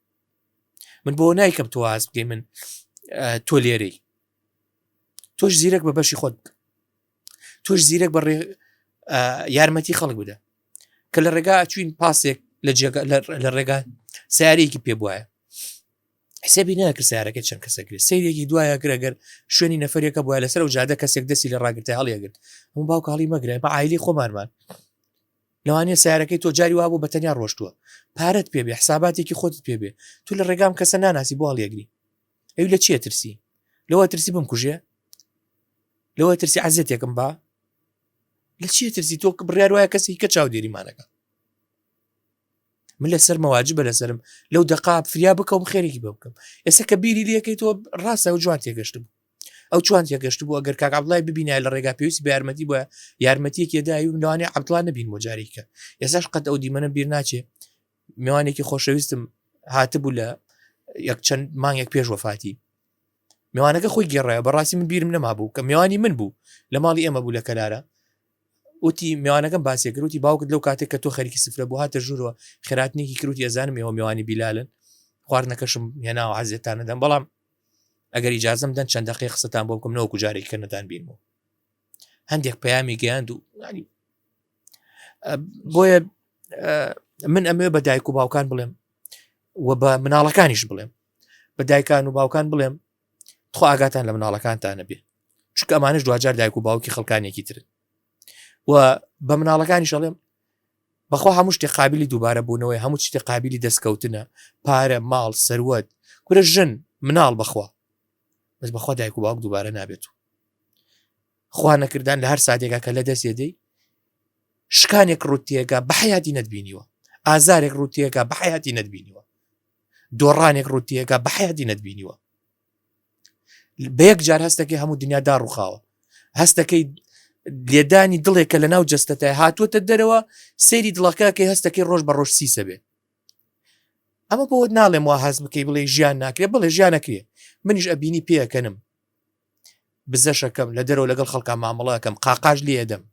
من بۆ نایکەم تۆ واز بگەی من تۆ لێرەی تۆش زیرەک بە بەشی خۆت تۆش زیرەک بە یارمەتی خەڵک بدە کە لە ڕێگا چوین پاسێک لە جێگە لە ڕێگا سیارێکی پێ بواە حسێبی ناکرد سیارەکە چەند کەسە کرد سیرێکی دوایە گرەگەر شوێنی نەفرەکە بووە لەسەر و جادە کەسێک دەستی لە ڕاگرتە هەڵیەگرت هەموو باوکڵی مەگرە بە ئایلی خۆمانمان لەوانیە سەیارەکەی تۆ جاری وابوو بە تەنیا ڕۆشتووە پارەت پێ بێ حساباتێکی خۆتت پێ بێ تو لە ڕێگام کەسە ناناسی بۆ هەڵیەگری ئەوی لە چیە ترسی لەوە ترسی بم کوژێ لەوە ترسی عزیێتێکم با لە چیە ترسی تۆ بڕیار وایە کەسی کە چاودێریمانەکە من لەسەر مەواجب بە لەسرم لەو دەقا فریا بکەم خێرێکی بە بکەم ئێستا کە بیری لەکەی تۆ ڕاستە و جوان تێگەشتم ئەو چۆن تێگەشت بوو گەر کاک عبدڵای ببینای لە ڕێگا پێویستی بە یارمەتی بە یارمەتیەکی دای و لەوانێ عبدڵان نبین بۆ جارێکە ئێساش قەت ئەو دیمەە بیر ناچێ میوانێکی خۆشەویستم هاتبوو لە یەک چەند مانگێک پێش وەفاتی میوانەکە خۆی گێڕایە بەڕاستی من بیرم نەما بوو کە میوانی من بوو لە ماڵی ئێمە بوو لە کەلارە وتی میوانەکەم باسێ کروتی باوکت لەو کاتێک کە تۆ خەریکی سفرە بۆ هاتە ژوورەوە خێراتنیکی کروتی ئەزانم ێەوە میوانی بیلالن خواردنەکەشم هێناوە عزیێتانەدەم بەڵام ئەگەر ئیجازم دەن چەند دقی قسەتان بۆ بکەم نەوەکو جارێک کە نەتان بیر بوو هەندێک پەیامی گەیاند و ینی بۆیە من ئەمێ بە دایک و باوکان بڵێم و بە مناڵەکانیش بڵێم بە دایکان و باوکان بڵێم تخوا ئاگاتان لە مناڵەکانتانە بێ چکە ئەمانش دواجار دایک و باوکی خەڵکانێکی ترن و بە مناڵەکانیش ئەڵێم بەخوا هەموو شتێ قابلی دووبارە بوونەوەی هەموو شتێ قابلی دەستکەوتنە پارە ماڵ سەروەت کورە ژن مناڵ بەخوا بەس بەخوا دایک و باوک دووبارە نابێت و خوا نەکردان لە هەر ساتێکا کە لە دەست دەی شکانێک ڕوتیەکە بەحیاتی نەتبینیوە ئازارێک ڕوتیەکە بەحیاتی نەتبینیوە دۆڕانێک ڕوتیەکە بەحیاتی نەتبینیوە بە یەک جار هەستەکەی هەموو دنیا داڕوخاوە هەستەکەی لێدانی دڵێک کە لە ناو جستەتای هاتووەتە دەرەوە سەیری دڵەکە کە هەستەکەی ڕۆژ بە ڕۆژ سیسە بێ ئەمە بۆت ناڵێم وا هەز بکەی بڵێ ژیان ناکرێت بڵێ ژیان نەکرێ منیش ئەبینی پێەکەنم بزەشەکەم لە دەرەوە لەگەڵ خەڵکان مامەڵەکەم قاقاش لێدەم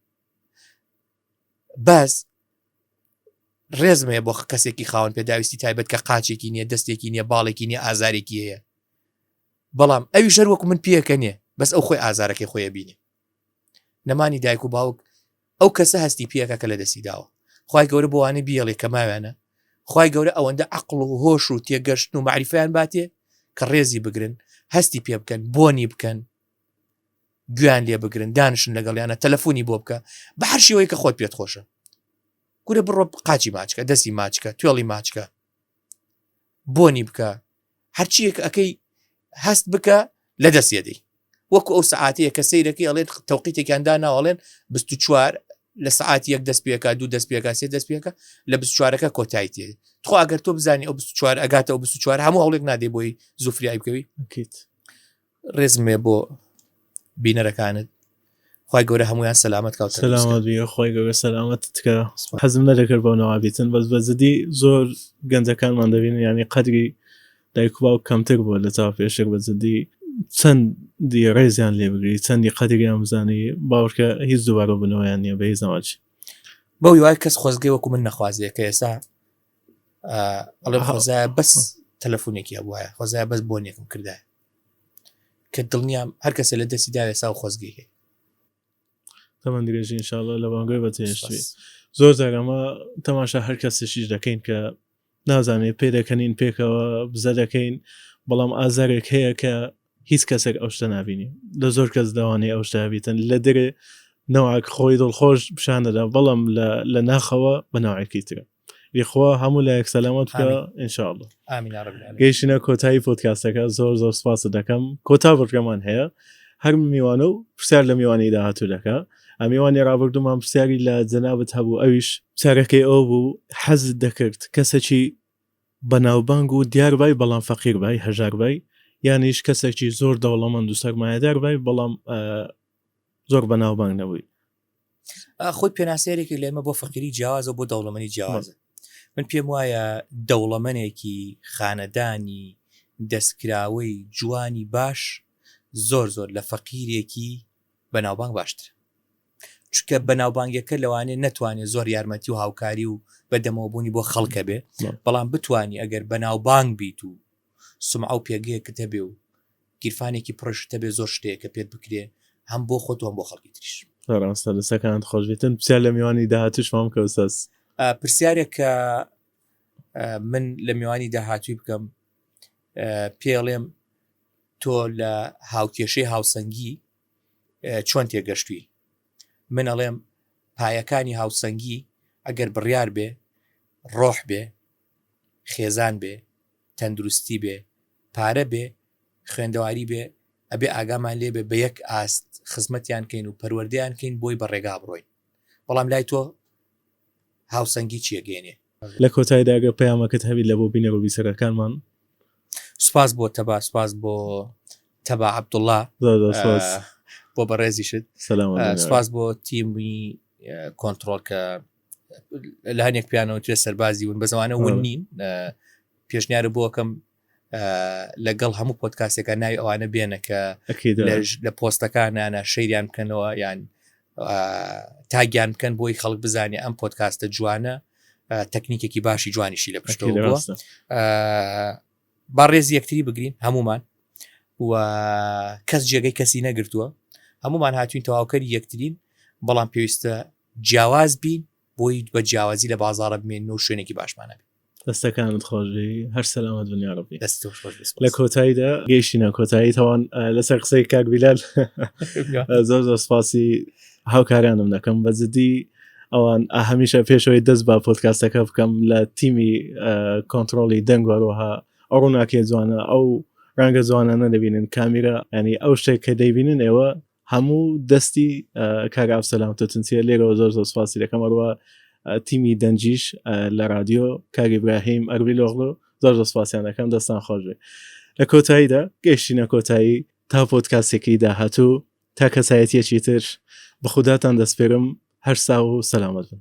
بەس ڕێزمەیە بۆ کەسێکی خاون پێداویستی تایبەت کە قاچێکی نییە دەستێکی نییە باڵێکی نیە ئازارێکی هەیە بەڵام ئەوی ژەر وەکو من پێەکە نیە بەس ئەو خۆی ئازارەکەی خۆیە بینێ نەمانی دایک و باوک ئەو کەسە هەستی پێەکە کە لە دەستی داوە خی گەورە بۆوانە بیڵێ کە ماوێنە خی گەورە ئەوەندە عقل و هۆش و تێگەشتن و معریفیان باتێ کە ڕێزی بگرن هەستی پێ بکەن بۆنی بکەن گویان لێ بگرن دانیشن لەگەڵیانە تەلەفۆنی بۆ بکە بە هەر شێوەیە کە خۆت پێت خۆشە گورە بڕۆ قاچی ماچکە دەستی ماچکە توێڵی ماچکە بۆنی بکە هەرچیەک ئەەکەی هەست بکە لە دەستێدەی وەکو ئەو سعاتەیە کە سیرەکەی ئەڵێت تەوقیتێکیاندا ناوەڵێن 24 لە سعات یەک دەست پێکا دوو دەست پێکا سێ دەست پێکە لە بچوارەکە کۆتایی تێ تخوا ئەگەر تۆ بزانانی ئەو 24 ئەگاتەوە 24 هەموو هەڵێک نادەی بۆی زوفریای بکەوی بکەیت ڕێزم هەیە بۆ بینەرەکانت خی گەورە هەمویان سەلامت کاوت خۆی گەورە سەلامت تکە حەزم نەدەکرد بۆ نەوابیتن بەس بەزدی زۆر گەنجەکانمان دەبین ینی قەدری دایک باو کەمتر بووە لە چاو پێشێک بەزدی چەند دی ڕێزیان لێ بگری چەندی قەدریان بزانی باوکە هیچ دووارە بنەوەیان نیە بە هیچ زەواج بەو وای کەس خۆزگەی وەکو من نەخوازیە کە ئێستا ئەڵێ خۆزای بەس تەلەفۆنێکی هەبواە خۆزای بەس بۆنێکم کردای کە دڵنیام هەر کەسێ لە دەستی داوێ ساو خۆزگەی هەیە تەمەند درێژی انشاءاللە لە بانگۆی بەجێشتوی زۆر جار ئەمە تەماشا هەر کەسێکیش دەکەین کە نازانێت پێ دەکەنین پێکەوە بزە دەکەین بەڵام ئازارێک هەیە کە هیچ کەسێک ئەو شتە نبینی لە زۆر کەس داوانەی ئەو شتابیتن لە دەرێ نەوەک خۆی دڵخۆش پیشان دەدا بەڵام لە ناخەوە بە ناوەکی ترە یخوا هەموو لایەک سەلامەت بکە ئینشاءاللە ئامین یا رب العالمین گەیشتینە کۆتایی پۆدکاستەکە زۆر زۆر سپاست دەکەم کۆتا بڕگەمان هەیە هەر میوانە و پرسیار لە میوانی داهاتوو دەکە ئەمیوانی ڕابردوومان پرسیاری لە جەنابەت هەبوو ئەویش پرسیارەکەی ئەو بوو حەزت دەکرد کەسێکی بەناوبانگ و دیار بای بەڵام فەقیر بای هەژار بای یانیش کەسێکی زۆر دەوڵەمەند و سەرمایەدار بای بەڵام زۆر بەناوبانگ نەبووی خۆی پێناسەیەرێکی لێمە بۆ فەقیری جیاوازە بۆ دەوڵەمەنی جیاوازە من پێم وایە دەوڵەمەنێکی خانەدانی دەستکراوەی جوانی باش زۆر زۆر لە فەقیرێکی بەناوبانگ باشتر چکە بەناوبانگەکە لەوانێ نەتوانێت زۆر یارمەتی و هاوکاری و بەدەمەوەبوونی بۆ خەڵکە بێ بەڵام بتانی ئەگەر بەناوبانگ بیت و سومعە و پێگەیەکت هەبێ و گیرفانێکی پڕشت هەبێ زۆر شت هەیە کە پێت بکرێ هەم بۆ خۆت و هەم بۆ خەڵکی تریش. ڕاستە دەستەکانت خۆشبێتن پرسیار لە میوانی داهاتوش مام کە ئوستاز پرسیارێک کە من لە میوانی داهاتوی بکەم پێڵێم تۆ لە هاوکێشەی هاوسەنگی چۆن تێگەشتوی من ئەڵێم پایەکانی هاوسەنگی ئەگەر بڕیار بێ ڕۆح بێ خێزان بێ تەندروستی بێ پارە بێ خوێندەواری بێ ئەبێ ئاگامان لێ بێ بە یەک ئاست خزمەتیان کەین و پەروەردەیان کەین بۆی بە ڕێگا بڕۆین بەڵام لای تۆ هاوسەنگی چیە گەێنێ. لە کۆتایدا گەر پەیامەکەت هەبی لە بۆ بینەر و بیسەرەکانمان. سوپاس بۆ تەبا سوپاس بۆ تەبا عەبدوڵا زۆر زۆر سوپاس آه، بۆ بەڕێزیشت سلام آه، علیکم. سوپاس بۆ تیمی آه، کۆنترۆڵ کە لە هەنێک پیانەوە توێ سەربازی ون بەزوانە ون نین پێشنیارە بۆکەم لەگەڵ هەموو پۆتکاسەکە ناوی ئەوانە بێنە کە لە پۆستەکانانە شەیریان بکەنەوە یان تاگیان بکەن بۆی خەڵک بزانێ ئەم پۆتکاستە جوانە تەکنیکێکی باشی جوانیشی لە پشتۆ با ڕێز یەکتری بگرین هەمومان و کەس جێگەی کەسی نەگرتووە هەمومان هاتوین تەواوکەری یەکترین بەڵام پێویستە جیاواز بین بۆی بە جیاوازی لە بازاڕە بمێنەوە شوێنێکی باشمان هەبێت دەستەکانت خۆشبی هەر سەلامەت بن یاڕبی دەست تۆش خۆش بێت. لە کۆتاییدا گەیشتینە کۆتایی تەوان ئە، لەسەر قسەی کاک بیلال زۆر زۆر سپاسی هاوکارانم دەکەم بە جدی ئەوان ئە هەمیشە پێشەوەی دەست بە پۆتکاستەکە بکەم لە تیمی ئە، کۆنترۆڵی دەنگ وەرەوەها ئەو ڕووناکیە جوانە ئەو ڕەنگە جوانانە دەبینن کامیرا ینی ئەو شتێک کە دەیبینن ئێوە هەموو دەستی کاک ئاوسەلام تەتنسیە لێرەوە زۆر زۆر سپاسی دەکەم ئەروە تیمی دەنجیش لە رادیۆ کاک ئیبراهیم ئەربی لۆغلۆ زۆر زۆر سپاسیان دەکەم دەستان خۆش بێ لە کۆتاییدا گەشتینە کۆتایی تا پۆتکاسێکی داهاتوو تا کەسایەتیەکی تر بە خوداتان دەستپێرم هەر ساو و سەلامەت بن